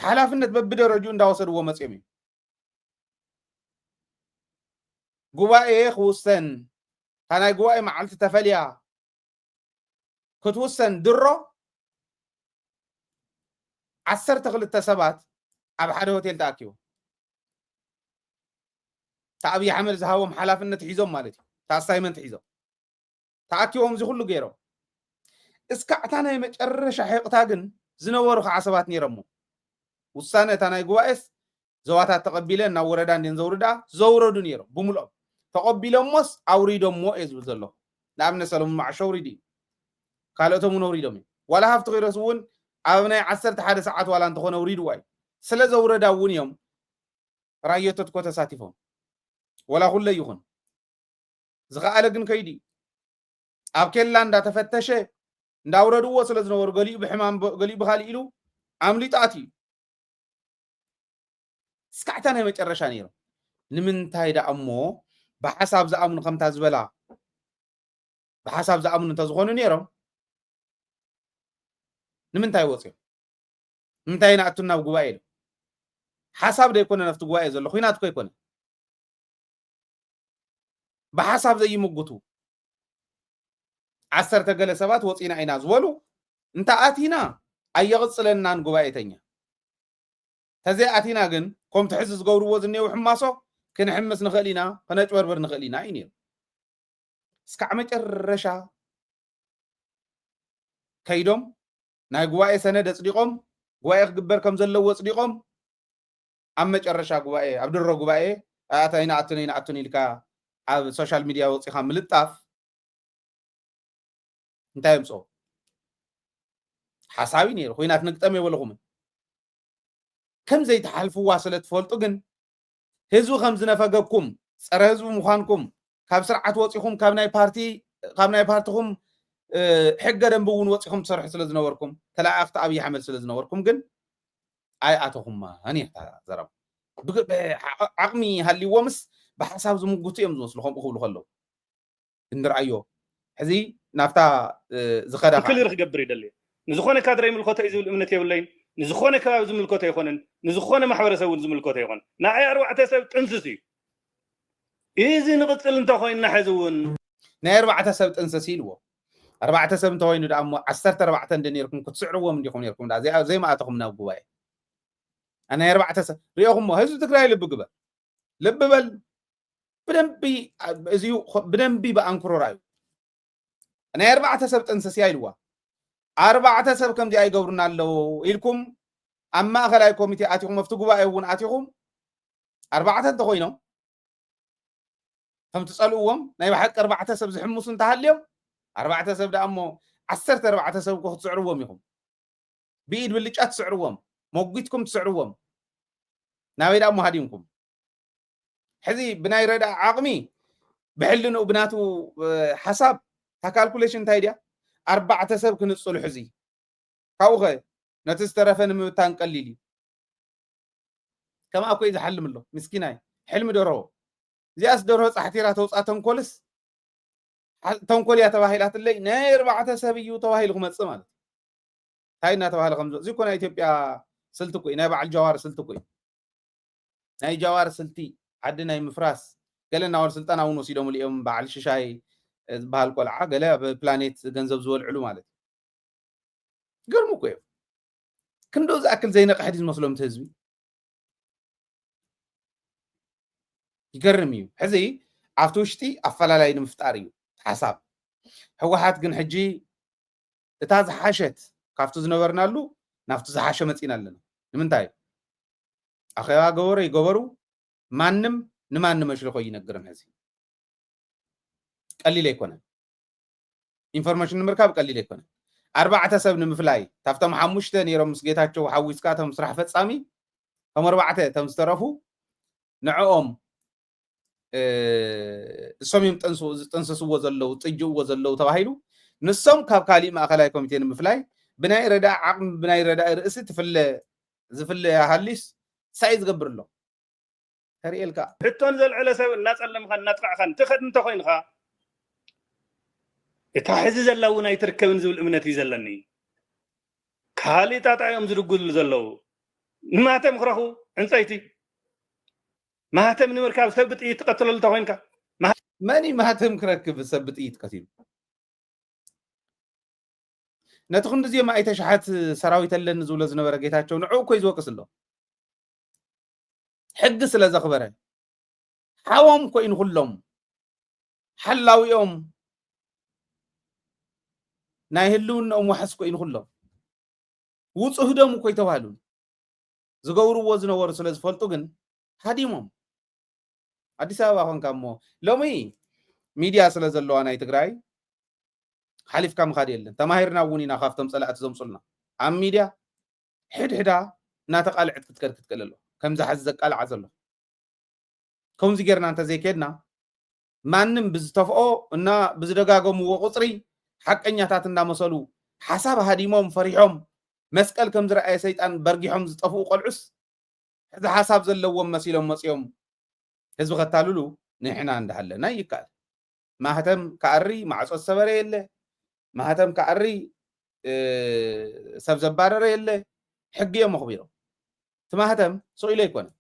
ሓላፍነት በብደረጅኡ እንዳወሰድዎ መፅኦም እዩ ጉባኤ ክውሰን እታ ናይ ጉባኤ መዓልቲ ተፈልያ ክትውሰን ድሮ ዓሰርተ ክልተ ሰባት ኣብ ሓደ ሆቴል ተኣኪቦም እታ ኣብዪ ኣሕመድ ዝሃቦም ሓላፍነት ሒዞም ማለት እዩ እታ ኣሳይመንት ሒዞም ተኣኪቦም እዚ ኩሉ ገይሮም እስካዕ እታ ናይ መጨረሻ ሕቕታ ግን ዝነበሩ ከዓ ሰባት ነይሮሞ ውሳነ እታ ናይ ጉባኤስ ዞባታት ተቐቢለ ናብ ወረዳ እንድየን ዘውርድኣ ዘውረዱ ነይሮም ብምልኦም ተቐቢሎሞስ ኣውሪዶሞ እየ ዝብል ዘለኹ ንኣብነት ሰለሙን መዓሾ ኣውሪዱ እዩ ካልኦቶም እውን ኣውሪዶም እዮም ዋላ ሃፍቲ ኪሮስ እውን ኣብ ናይ ዓሰርተ ሓደ ሰዓት ዋላ እንተኾነ ኣውሪድዋ እዩ ስለ ዘውረዳ እውን እዮም ራዮቶት ኮ ተሳቲፎም ወላ ኩለ ይኹን ዝኸኣለ ግን ከይዱ እዩ ኣብ ኬላ እንዳተፈተሸ እንዳውረድዎ ስለ ዝነበሩ ገሊኡ ብሕማም ገሊኡ ብካሊእ ኢሉ ኣምሊጣት እዩ እስካዕ እታ ናይ መጨረሻ ነይሮም ንምንታይ ደኣ እሞ ብሓሳብ ዝኣምኑ ከምታ ዝበላ ብሓሳብ ዝኣምኑ እንተዝኾኑ ነይሮም ንምንታይ ወፅዮም ንምንታይ ንኣቱ ናብ ጉባኤ ኢሉ ሓሳብ ዘይኮነ ናብቲ ጉባኤ ዘሎ ኩናት ኮ ኣይኮነ ብሓሳብ ዘይምጉቱ ዓሰርተ ገለ ሰባት ወፂና ኢና ዝበሉ እንተኣቲና ኣየቕፅለናን ጉባኤተኛ ተዘይኣቲና ግን ከምቲ ሕዚ ዝገብርዎ ዝኔው ሕማሶ ክንሕምስ ንኽእል ኢና ክነጭበርብር ንኽእል ኢና እዩ ነይሩ እስካዕ መጨረሻ ከይዶም ናይ ጉባኤ ሰነድ ኣፅዲቖም ጉባኤ ክግበር ከም ዘለዎ ኣፅዲቖም ኣብ መጨረሻ ጉባኤ ኣብ ድሮ ጉባኤ ኣያት ኣይንኣቱን ኣይንኣቱን ኢልካ ኣብ ሶሻል ሚድያ ወፂኻ ምልጣፍ እንታይ የምፅኦ ሓሳብ እዩ ነይሩ ኩናት ንግጠም የበልኹምን ከምዘይትሓልፍዋ ስለ ትፈልጡ ግን ህዝቢ ከም ዝነፈገኩም ፀረ ህዝቢ ምዃንኩም ካብ ስርዓት ወፂኹም ካብ ናይ ፓርቲ ካብ ናይ ፓርትኹም ሕገ ደንቢ እውን ወፂኹም ትሰርሑ ስለ ዝነበርኩም ተለኣኣኽቲ ኣብዪ ኣሕመድ ስለ ዝነበርኩም ግን ኣይኣተኹማን እያ እታ ዘረባ ዓቕሚ ሃልይዎምስ ብሓሳብ ዝምጉቱ እዮም ዝመስሉ ከምኡ ክብሉ ከለዉ እንርኣዮ ሕዚ ናብታ ዝኸዳ ክልር ክገብር ይደልየ ንዝኾነ ካድረ ይምልከቶ እዩ ዝብል እምነት የብለይን ንዝኾነ ከባቢ ዝምልከቶ ኣይኮነን ንዝኾነ ማሕበረሰብ እውን ዝምልከቶ ኣይኮነን ንኣይ ኣርባዕተ ሰብ ጥንስስ እዩ ኢዚ ንቕጽል እንተ ኮይንና ሕዚ እውን። ናይ ኣርባዕተ ሰብ ጥንስስ ኢልዎ። ኣርባዕተ ሰብ እንተኮይኑ ደኣ እሞ ዓሰርተ ኣርባዕተ እንዲ ኔርኩም ክትስዕርዎም እንዲኩም ኔርኩም ደኣ ዘይ ዘይምኣተኹም ናብ ጉባኤ ናይ ኣርባዕተ ሰብ ሪኦኹሞ ህዝቢ ትግራይ ልቢ ግበር ልቢ በል ብደንቢ እዚ ብደንቢ ብኣንክሮ ራዩ ናይ ኣርባዕተ ሰብ ጥንስስ እያ ኢልዋ ኣርባዕተ ሰብ ከምዚኣ ይገብሩና ኣለዉ ኢልኩም ኣብ ማእኸላይ ኮሚቴ ኣቲኹም ኣብቲ ጉባኤ እውን ኣቲኹም ኣርባዕተ እንተኮይኖም ከም ትፀልእዎም ናይ ብሓቂ ኣርባዕተ ሰብ ዝሕምሱ እንተሃልዮም ኣርባዕተ ሰብ ደኣ እሞ ዓሰርተ ኣርባዕተ ሰብ እኮ ክትስዕርዎም ኢኹም ብኢድ ብልጫ ትስዕርዎም መጒትኩም ትስዕርዎም ናበይ ደኣ እሞ ሃዲምኩም ሕዚ ብናይ ረድኣ ዓቕሚ ብሕልንኡ ብናቱ ሓሳብ እታ ካልኩሌሽን እንታይ ድያ ኣርባዕተ ሰብ ክንፅሉ ሕዚ ካብኡ ኸ ነቲ ዝተረፈ ንምብታን ቀሊል እዩ ከምኣ ኮይ ዝሓልም ኣሎ ምስኪናይ ሕልሚ ደርሆ እዚኣስ ደርሆ ፃሕቲራ ተውፃ ተንኮልስ ተንኮል እያ ተባሂላትለይ ናይ ኣርባዕተ ሰብ እዩ ተባሂሉ ክመፅእ ማለት እንታይ እናተባሃለ ከምዚ እዚ እኮ ናይ ኢትዮጵያ ስልቲ እኮ እዩ ናይ በዓል ጃዋር ስልቲ እኮ እዩ ናይ ጃዋር ስልቲ ዓዲ ናይ ምፍራስ ገለ ናዋል ስልጣን ኣውን ወሲዶምሉ ኢዮም ባዓል ሽሻይ ዝባሃል ቆልዓ ገለ ኣብ ፕላኔት ገንዘብ ዝበልዕሉ ማለት ኢዩ ይገርሙ እኮ ኢዮም ክንዶ ዝኣክል ዘይነቅሐ ድዩ ዝመስሎም እቲ ህዝቢ ይገርም እዩ ሕዚ ኣብቲ ውሽጢ ኣፈላላይ ንምፍጣር እዩ ሓሳብ ህወሓት ግን ሕጂ እታ ዝሓሸት ካብቲ ዝነበርናሉ ናብቲ ዝሓሸ መጺና ኣለና ንምንታይ ኣኼባ ገበሩ ይገበሩ ማንም ንማንም መሽልኾ ይነግርን ሕዚ ቀሊል ኣይኮነን ኢንፎርሜሽን ንምርካብ ቀሊል ኣይኮነን ኣርባዕተ ሰብ ንምፍላይ ካብቶም ሓሙሽተ ነይሮም ምስ ጌታቸው ሓዊስካ እቶም ስራሕ ፈፃሚ እቶም ኣርባዕተ እቶም ዝተረፉ ንዕኦም እሶም እዮም ዝጠንሰስዎ ዘለው ጥጅእዎ ዘለው ተባሂሉ ንሶም ካብ ካሊእ ማእኸላይ ኮሚቴ ንምፍላይ ብናይ ረዳ ዓቕሚ ብናይ ረዳ ርእሲ ትፍለ ዝፍለ ሃሊስ ሳይ ዝገብር ኣሎ ተርእየልካ ሕቶን ዘልዕለ ሰብ እናፀለምኻን እናጥቃዕኻን ትኸድ እንተኮይንኻ እታ ሕዚ ዘላ እውን ኣይትርከብን ዝብል እምነት እዩ ዘለኒ ካልእ ጣጣ እዮም ዝድጉሉ ዘለው ንማተም ክረኽቡ ዕንፀይቲ ማህተም ንምርካብ ሰብ ብጥይት ትቀትለሉ እንተኮይንካ መን እዩ ማህተም ክረክብ ሰብ ብጥይት ቀቲሉ ነቲ ክንዲ እዚኦም ኣይተ ሸሓት ሰራዊት ኣለኒ ዝብሎ ዝነበረ ጌታቸው ንዕኡ እኮይ ዝወቅስ ኣሎ ሕጊ ስለ ዘኽበረ ሓዎም ኮይኑ ኩሎም ሓላዊኦም ናይ ህልውናኦም ዋሕስ ኮይኑ ኩሎም ውፁህዶም እኮ ይተባህሉ ዝገብርዎ ዝነበሩ ስለ ዝፈልጡ ግን ሃዲሞም ኣዲስ ኣበባ ኮንካ እሞ ሎሚ ሚድያ ስለ ዘለዋ ናይ ትግራይ ሓሊፍካ ምኻድ የለን ተማሂርና እውን ኢና ካብቶም ፀላእቲ ዘምፁልና ኣብ ሚድያ ሕድሕዳ እናተቃልዕት ክትከድ ክትክእል ኣለዋ ከምዚ ሓዚ ዘቃልዓ ዘሎ ከምዚ ጌርና እንተዘይኬድና ማንም ብዝተፍኦ እና ብዝደጋገምዎ ቁፅሪ ሓቀኛታት እንዳመሰሉ ሓሳብ ሃዲሞም ፈሪሖም መስቀል ከምዝረኣየ ሰይጣን በርጊሖም ዝጠፍኡ ቆልዑስ ሕዚ ሓሳብ ዘለዎም መሲሎም መፅዮም ህዝቢ ከታልሉ ንሕና እንዳሃለና ይካኣል ማህተም ካኣሪ ማዕፆ ዝሰበረ የለ ማህተም ካኣሪ ሰብ ዘባረረ የለ ሕጊ እዮም ኣኽቢሮም እቲ ማህተም ስኢሉ ኣይኮነን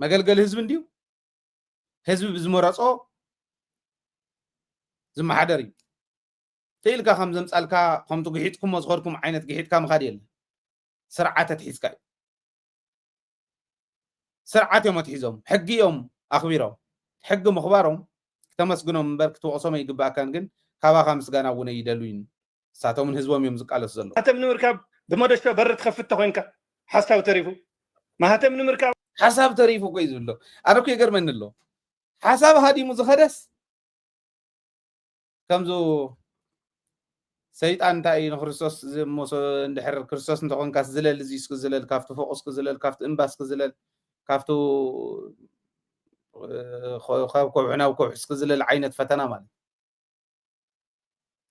መገልገሊ ህዝቢ እንድዩ ህዝቢ ብዝመረፆ ዝመሓደር እዩ ተኢልካ ከም ዘምፃልካ ከምቲ ግሒጥኩሞ ዝኸድኩም ዓይነት ግሒጥካ ምኻድ የለ ስርዓት ኣትሒዝካ እዩ ስርዓት እዮም ኣትሒዞም ሕጊ እዮም ኣኽቢሮም ሕጊ ምኽባሮም ክተመስግኖም እምበር ክትወቕሶም ኣይግባእካን ግን ካባኻ ምስጋና እውን ኣይደልዩን ንሳቶምን ህዝቦም እዮም ዝቃለሱ ዘለዉ። ማህተም ንምርካብ ብመዶሻ በሪ ትኸፍት ተኾይንካ ሓሳብ ተሪፉ ማህተም ንምርካብ። ሓሳብ ተሪፉ እኮ እዩ ዝብሎ ኣነ እኮ ይገርመኒ ኣሎ ሓሳብ ሃዲሙ ዝኸደስ ከምዚ ሰይጣን እንታይ እዩ ንክርስቶስ ዝሞሶ እንድሕር ክርስቶስ እንተኾንካ ዝለል እዚ እስኪ ዝለል ካብቲ ፎቅ እስኪ ዝለል ካብቲ እምባ እስኪ ዝለል ካብቲ ካብ ከውሒ ናብ ከውሒ እስኪ ዝለል ዓይነት ፈተና ማለት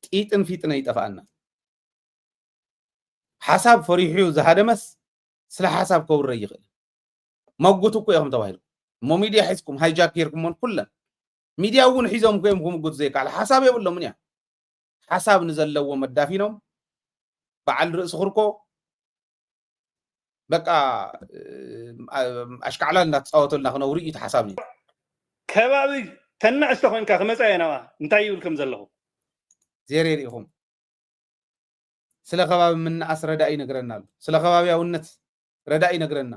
ጢጥን ፊጥነ ይጠፍኣና ሓሳብ ፈሪሑ ዝሃደመስ ስለ ሓሳብ ከውረ ይኽእል መጉት እኮ ኢኹም ተባሂሉ እሞ ሚድያ ሒዝኩም ሃይጃክ ጌርኩሞን ኩለን ሚድያ እውን ሒዞም እኮ እዮም ክምጉት ዘይከኣል ሓሳብ የብሎምን እያ ሓሳብ ንዘለዎም ኣዳፊኖም በዓል ርእሲ ክርኮ በቃ ኣሽካዕላል እንዳተፃወተልና ክነብሩ እዩ ተሓሳብኒ ከባቢ ተናእሽተ ኮንካ ክመፃ እየ ናብኣ እንታይ ይብል ከም ዘለኹ ዜሬ ርኢኹም ስለ ከባቢ ምናኣስ ረዳኢ ይነግረና ኣሎ ስለ ከባቢያውነት ረዳኢ ይነግረና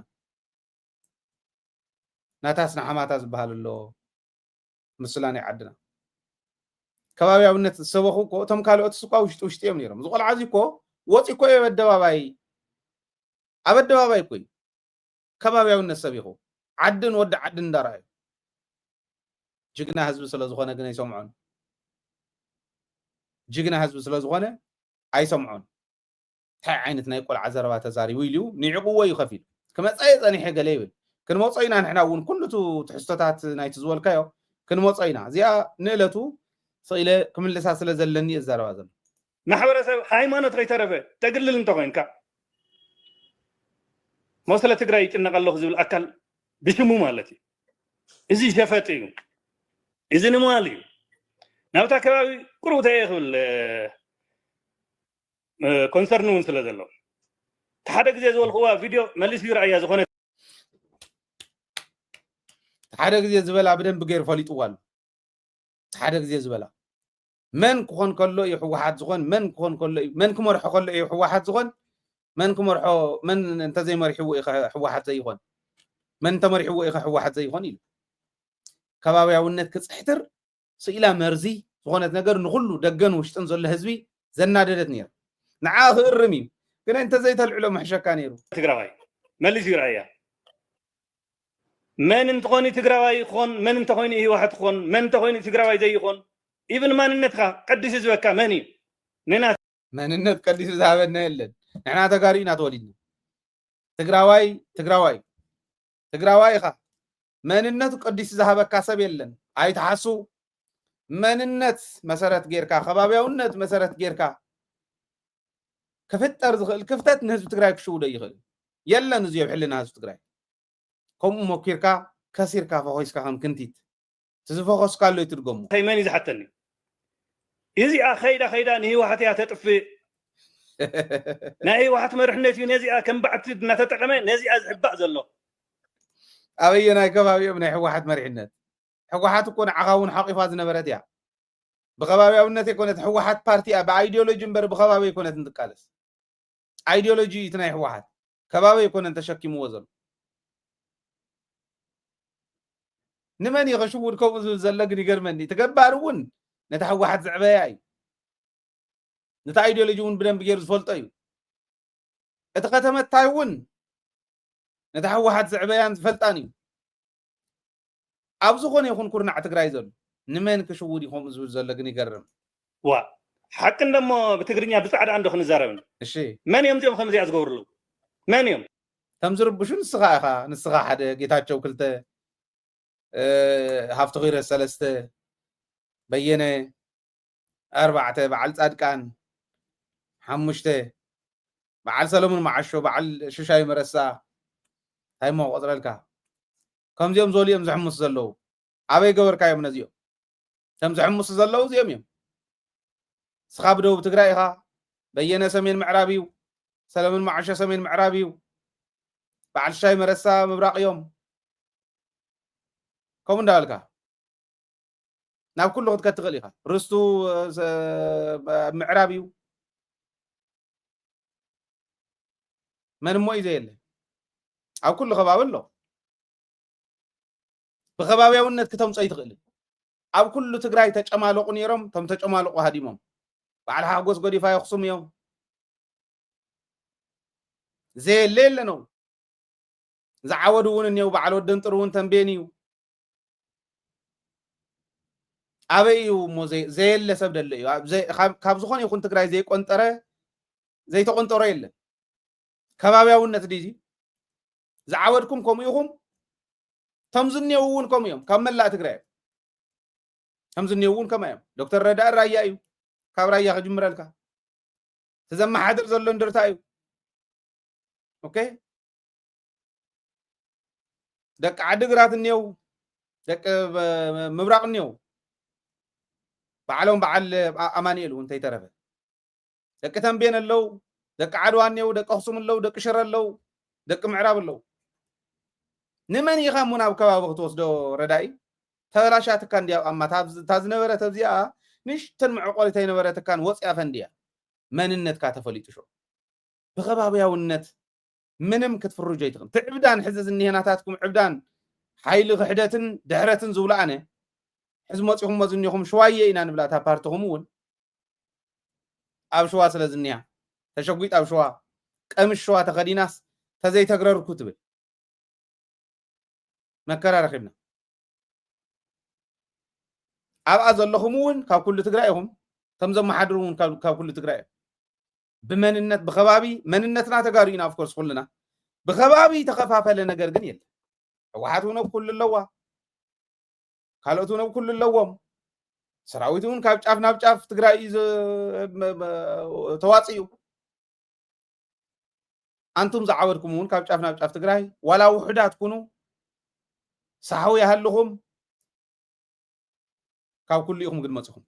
ናታስ ንሓማታ ዝበሃል ኣሎ ምስላ ናይ ዓድና ከባብያውነት ዝሰበኹ እኮ እቶም ካልኦት ስኳ ውሽጢ ውሽጢ እዮም ነይሮም። እዚ ቆልዓ እዚ እኮ ወፂ እኮ ኣብ ኣደባባይ ኣብ ኣደባባይ እኮ እዩ ከባብያውነት ሰቢኹ ዓድን ወዲ ዓድን እንዳረኣዩ ጅግና ህዝቢ ስለ ዝኾነ ግን ኣይሰምዖን። ጅግና ህዝቢ ስለ ዝኾነ ኣይሰምዖን። ታይ ዓይነት ናይ ቆልዓ ዘረባ ተዛሪቡ ኢሉ እዩ ኒዕቅዎ እዩ ከፊሉ ክመፃ እየ ፀኒሐ ገለ ይብል ክንመፆ ኢና ንሕና እውን ኩሉ እቱ ትሕዝቶታት ናይቲ ዝበልካዮ ክንመፆ ኢና እዚኣ ንእለቱ ስቅ ኢለ ክምልሳ ስለ ዘለኒ እየ ዝዛረባ ዘሎ ማሕበረሰብ ሃይማኖት ከይተረፈ ተግልል እንተኮይንካ እሞ ስለ ትግራይ ይጭነቅ ኣለኩ ዝብል ኣካል ብሽሙ ማለት እዩ እዚ ሸፈጥ እዩ እዚ ንማል እዩ ናብታ ከባቢ ቁሩብ ተየ ክብል ኮንሰርን እውን ስለ ዘሎ ሓደ ግዜ ዝበልክዋ ቪድዮ መሊስ እዩ ረኣያ ዝኾነ ሓደ ግዜ ዝበላ ብደንብ ገይሩ ፈሊጥዋ ኣሎ ሓደ ግዜ ዝበላ መን ክኾን ከሎ እዩ ህወሓት ዝኾን መን ክኾን ከሎ እዩ መን ክመርሖ ከሎ እዩ ህወሓት ዝኾን መን ክመርሖ መን እንተዘይመሪሕዎ እዩ ህወሓት ዘይኾን መን እንተመሪሕዎ እዩ ህወሓት ዘይኾን ኢሉ ከባብያውነት ክፅሕትር ስኢላ መርዚ ዝኾነት ነገር ንኹሉ ደገን ውሽጥን ዘሎ ህዝቢ ዘናደደት ነይራ። ንዓ ክእርም እዩ ግን እንተዘይተልዕሎ ምሕሸካ ነይሩ። ትግራዋይ መሊሱ ይርኣያ መን እንተኾይኑ ትግራዋይ ይኾን መን እንተኾይኑ ህወሓት ይኾን መን እንተኾይኑ ትግራዋይ ዘይኾን ኢብን ማንነትካ ቀዲሱ ዝበካ መን እዩ ንና መንነት ቀዲሱ ዝሃበና የለን ንሕና ተጋሩ ኢና ተወሊድና ትግራዋይ ትግራዋይ ትግራዋይ ኢኻ መንነቱ ቀዲሱ ዝሃበካ ሰብ የለን ኣይትሓሱ መንነት መሰረት ጌርካ ከባቢያውነት መሰረት ጌርካ ክፍጠር ዝኽእል ክፍተት ንህዝቢ ትግራይ ክሽውዶ ይኽእል የለን እዚ ኣብ ሕልና ህዝቢ ትግራይ ከምኡ ሞኪርካ ከሲርካ ፈኾስካ ከም ክንቲት እቲ ዝፈኾስካሉ ይትድገሙ መን እዩ ዝሓተኒ እዚኣ ከይዳ ከይዳ ንህወሓት እያ ተጥፍእ ናይ ህወሓት መርሕነት እዩ ነዚኣ ከም ባዕቲ እናተጠቐመ ነዚኣ ዝሕባእ ዘሎ ኣበየናይ ከባቢ እዮም ናይ ሕወሓት መሪሕነት? ሕወሓት እኮ ንዓኻ እውን ሓቂፋ ዝነበረት እያ። ብኸባቢያውነት ኣይኮነት ሕወሓት ፓርቲ እያ ብኣይዲዮሎጂ እምበር ብኸባቢ ኣይኮነት እንትቃለስ። ኣይዲዮሎጂ እዩ እቲ ናይ ሕወሓት ከባቢ ኣይኮነን ተሸኪምዎ ዘሎ። ንመን እዩ ከሽውድ ከምኡ ዝብል ዘሎ ግን ይገርመኒ። እቲ ገባር እውን ነታ ሕወሓት ዝዕበያ እዩ። ነቲ ኣይዲዮሎጂ እውን ብደንብ ገይሩ ዝፈልጦ እዩ። እቲ ከተመታይ እውን ነታ ህወሓት ዝዕበያን ዝፈልጣን እዩ። ኣብ ዝኾነ ይኹን ኩርናዕ ትግራይ ዘሎ ንመን ክሽውድ እዩ ከምኡ ዝብል ዘሎ ግን ይገርም። ዋእ ሓቂ እንደሞ ብትግርኛ ብጻዕዳ እንዶ ክንዛረብ እንዶ እሺ መን እዮም እዚኦም ከምዚኣ ዝገብርሉ መን እዮም ከም ዝርብሹ ንስኻ ኢኻ ንስኻ ሓደ ጌታቸው ክልተ እ፣ ሃፍቲ ኺረ ሰለስተ በየነ ኣርባዕተ፣ በዓል ጻድቃን፣ ሓሙሽተ፣ በዓል ሰለሙን መዓሾ፣ በዓል ሽሻይ መረሳ፣ ታይ እሞ ክቆጽረልካ። ከምዚኦም ዝበሉ እዮም ዝሕምሱ ዘለዉ። ኣበይ ገበርካዮም ነዚኦም? እቶም ዝሕምሱ ዘለዉ እዚኦም እዮም። ንስኻ ብደቡብ ትግራይ ኢኻ፣ በየነ ሰሜን ምዕራብ እዩ፣ ሰለሙን መዓሾ ሰሜን ምዕራብ እዩ፣ በዓል ሽሻይ መረሳ ምብራቕ እዮም። ከምኡ እንዳበልካ። ናብ ኩሉ ክትከድ ትኽእል ኢኻ ርስቱ ምዕራብ እዩ መን እሞ እዩ ዘየለ ኣብ ኩሉ ከባቢ ኣሎ ብከባብያውነት ክተምፆ ይትኽእል ኣብ ኩሉ ትግራይ ተጨማለቑ ነይሮም እቶም ተጨማለቑ ሃዲሞም በዓል ሓጎስ ጎዲፋ የኽሱም እዮም ዘየለ የለነው ዝዓወዱ እውን እኒው በዓል ወደንጥር እውን ተንቤን እዩ ኣበይ እዩ እሞ ዘየለ ሰብ ደሎ እዩ ካብ ዝኾነ ይኹን ትግራይ ዘይቆንጠረ ዘይተቆንጠሮ የለን ከባብያውነት ድዩ ዝዓበድኩም ከምኡ ኢኹም እቶም ዝኔው እውን ከምኡ እዮም ካብ መላእ ትግራይ እዮም እቶም ዝኔው እውን ከምኣ እዮም ዶክተር ረዳእ ራያ እዩ ካብ ራያ ክጅምረልካ እቲ ዘመሓድር ዘሎ እንድርታ እዩ ኦኬ ደቂ ዓዲግራት እኒው ደቂ ምብራቕ እኒው ባዕሎም በዓል ኣማኒኤል እውን እንተይተረፈ ደቂ ተንቤን ኣለው ደቂ ዓድዋ እኒው ደቂ ኣክሱም ኣለው ደቂ ሽረ ኣለው ደቂ ምዕራብ ኣለው ንመን ኢኻ እሞ ናብ ከባቢ ክትወስዶ ረዳኢ ተበላሻትካ እንዲያ ቋማ እታ ዝነበረት ኣብዚኣ ንሽተን መዕቆሪት ኣይነበረትካን ወፅያ ፈንድያ መንነትካ ተፈሊጡ ሾ ብከባብያውነት ምንም ክትፍርጆ ኣይትኽእልን እቲ ዕብዳን ሕዚ ዝኒሀ ናታትኩም ዕብዳን ሓይሊ ክሕደትን ድሕረትን ዝብሎ ኣነ ሕዚ መፂኹሞ ዝኒኹም ሽዋየ ኢና ንብላ እታ ፓርትኹም እውን ኣብ ሽዋ ስለ ዝኒያ ተሸጒጥ ኣብ ሽዋ ቀምሽ ሽዋ ተኸዲናስ ተዘይተግረርኩ ትብል መከራ ረኺብና ኣብኣ ዘለኹም እውን ካብ ኩሉ ትግራይ ኢኹም እቶም ዘመሓድሩ እውን ካብ ኩሉ ትግራይ እዮም ብመንነት ብከባቢ መንነትና ተጋሩ ኢና ኣፍኮርስ ኩልና ብከባቢ ተኸፋፈለ ነገር ግን የለ ህወሓት እውን ኣብ ኩሉ ኣለዋ ካልኦት እውን ኣብ ኩሉ ኣለዎም ሰራዊት እውን ካብ ጫፍ ናብ ጫፍ ትግራይ እዩ ተዋፅኡ ኣንቱም ዝዓበድኩም እውን ካብ ጫፍ ናብ ጫፍ ትግራይ ዋላ ውሑዳት ኩኑ ሳሕዊ ይሃልኹም ካብ ኩሉ ኢኹም ግን መፅኹም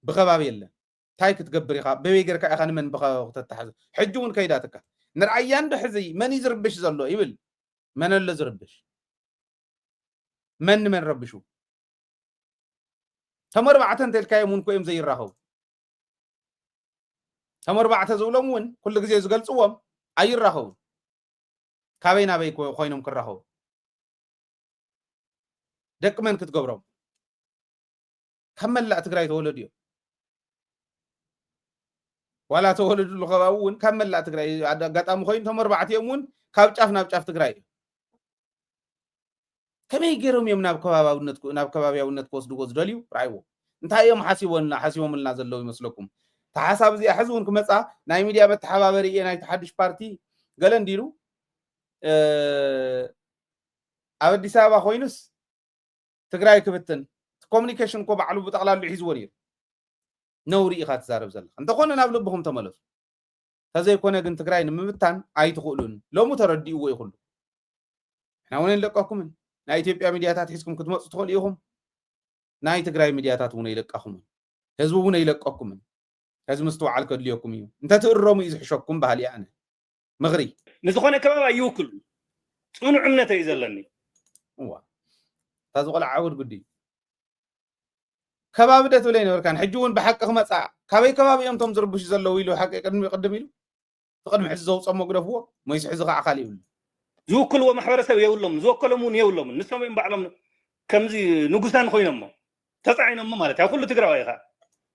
ብከባቢ የለን ታይ ክትገብር ኢኻ በበይ ገርካ ኢኻ ንመን ብኸባቢ ክተታሕዞ ሕጂ ውን ከይዳትካ ንርኣያ እንዶ ሕዚ መን እዩ ዝርብሽ ዘሎ ይብል መን ኣሎ ዝርብሽ መን ንመን ረብሹ እቶም ኣርባዕተ እንተልካዮም ውን ኮዮም ዘይራኸቡ እቶም ኣርባዕተ ዝብሎም ውን ኩሉ ግዜ ዝገልፅዎም ኣይራኸቡን ካበይ ናበይ ኮይኖም ክራኸቡ ደቂ መን ክትገብሮም ካብ መላእ ትግራይ ተወለዱ እዮም ዋላ ተወለድሉ ከባቢ እውን ካብ መላእ ትግራይ ኣጋጣሚ ኮይኑ እቶም ኣርባዕቲኦም እውን ካብ ጫፍ ናብ ጫፍ ትግራይ እዮም ከመይ ገይሮም እዮም ናብ ከባቢያውነት ናብ ከባቢያውነት ክወስድዎ ዝደልዩ ርኣይዎ እንታይ እዮም ሓሲቦና ሓሲቦምልና ዘለዉ ይመስለኩም እቲ ሓሳብ እዚኣ ሕዚ እውን ክመፃ ናይ ሚድያ መተሓባበሪ እየ ናይቲ ሓዱሽ ፓርቲ ገለ እንዲሉ ኣብ ኣዲስ ኣበባ ኮይኑስ ትግራይ ክብትን እቲ ኮሙኒኬሽን እኮ ባዕሉ ብጠቕላሉ ሒዝዎ ነይሩ ነውሪ ኢኻ ትዛረብ ዘለኻ እንተኾነ ናብ ልብኹም ተመለሱ ተዘይኮነ ግን ትግራይ ንምብታን ኣይትኽእሉን ሎሙ ተረዲእዎ እዩ ኩሉ ንሕና እውን ኣይንለቀኩምን ናይ ኢትዮጵያ ሚድያታት ሒዝኩም ክትመፁ ትኽእሉ ኢኹም ናይ ትግራይ ሚድያታት እውን ኣይለቃኹምን ህዝቢ እውን ኣይለቀኩምን ከዚ ምስትውዓል ከድልየኩም እዩ እንተትእረሙ እዩ ዝሕሸኩም ባህሊ ኣነ ምኽሪ ንዝኾነ ከባቢ ኣይውክሉን ፅኑዕ እምነት እዩ ዘለኒ እዋ እታ ዝቆልዓ ዓውድ ጉዲ ከባቢ ደ ትብለይ ነበርካን ሕጂ እውን ብሓቂ ክመፅኣ ካበይ ከባቢ እዮም እቶም ዝርብሹ ዘለዉ ኢሉ ሓቂ ቅድሚ ቅድም ኢሉ ትቅድሚ ሕዚ ዘውፅኦ መጉደፍዎ ሞይስ ሕዚ ከዓ ካሊእ ይብሉ ዝውክልዎ ማሕበረሰብ የብሎም ዝወከሎም እውን የብሎምን ንሶም እዮም ባዕሎም ከምዚ ንጉሳን ኮይኖሞ ተፃዒኖሞ ማለት እዩ ኩሉ ትግራዋይ ኢኻ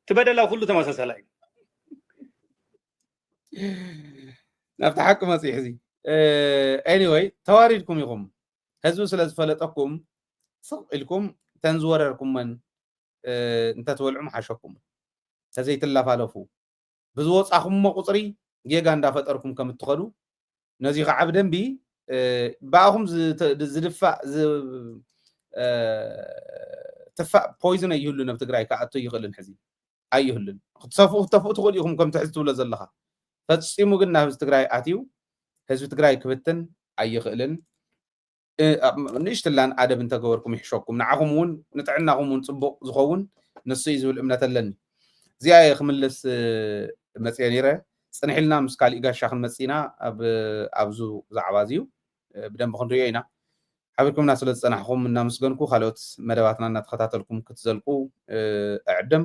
እቲ በደላ ኩሉ ተመሳሳላ እዩ ናብቲ ሓቂ መፅኢ ሕዚ ኤኒወይ ተዋሪድኩም ኢኹም ህዝቢ ስለ ዝፈለጠኩም ስቕ ኢልኩም እተን ዝወረርኩመን እንተትበልዑ ምሓሸኩም ተዘይትላፋለፉ ብዝወፃኹሞ ቁፅሪ ጌጋ እንዳፈጠርኩም ከም እትኸዱ ነዚ ከዓ ብደንቢ ብኣኹም ዝድፋእ ትፋእ ፖይዝነ ይህሉ ነብ ትግራይ ክኣቶ ይኽእልን ሕዚ ኣይህሉን ክትሰፍኡ ክትተፍኡ ትኽእሉ ኢኹም ከምቲ ሕዚ ትብሎ ዘለኻ ፈጺሙ ግን ናብ ህዝቢ ትግራይ ኣትዩ ህዝቢ ትግራይ ክብትን ኣይኽእልን ንእሽትላን ኣደብ እንተገበርኩም ይሕሸኩም ንዓኹም እውን ንጥዕናኹም እውን ፅቡቕ ዝኸውን ንሱ እዩ ዝብል እምነት ኣለኒ እዚኣ እየ ክምልስ መፅአ ነይረ ፅንሒልና ምስ ካሊእ ጋሻ ክንመፅእ ኢና ኣብዚ ዛዕባ እዚዩ ብደንቢ ክንርእዮ ኢና። ሓቢርኩምና ስለ ዝጸናሕኹም እናመስገንኩ ካልኦት መደባትና እናተኸታተልኩም ክትዘልቁ እዕድም።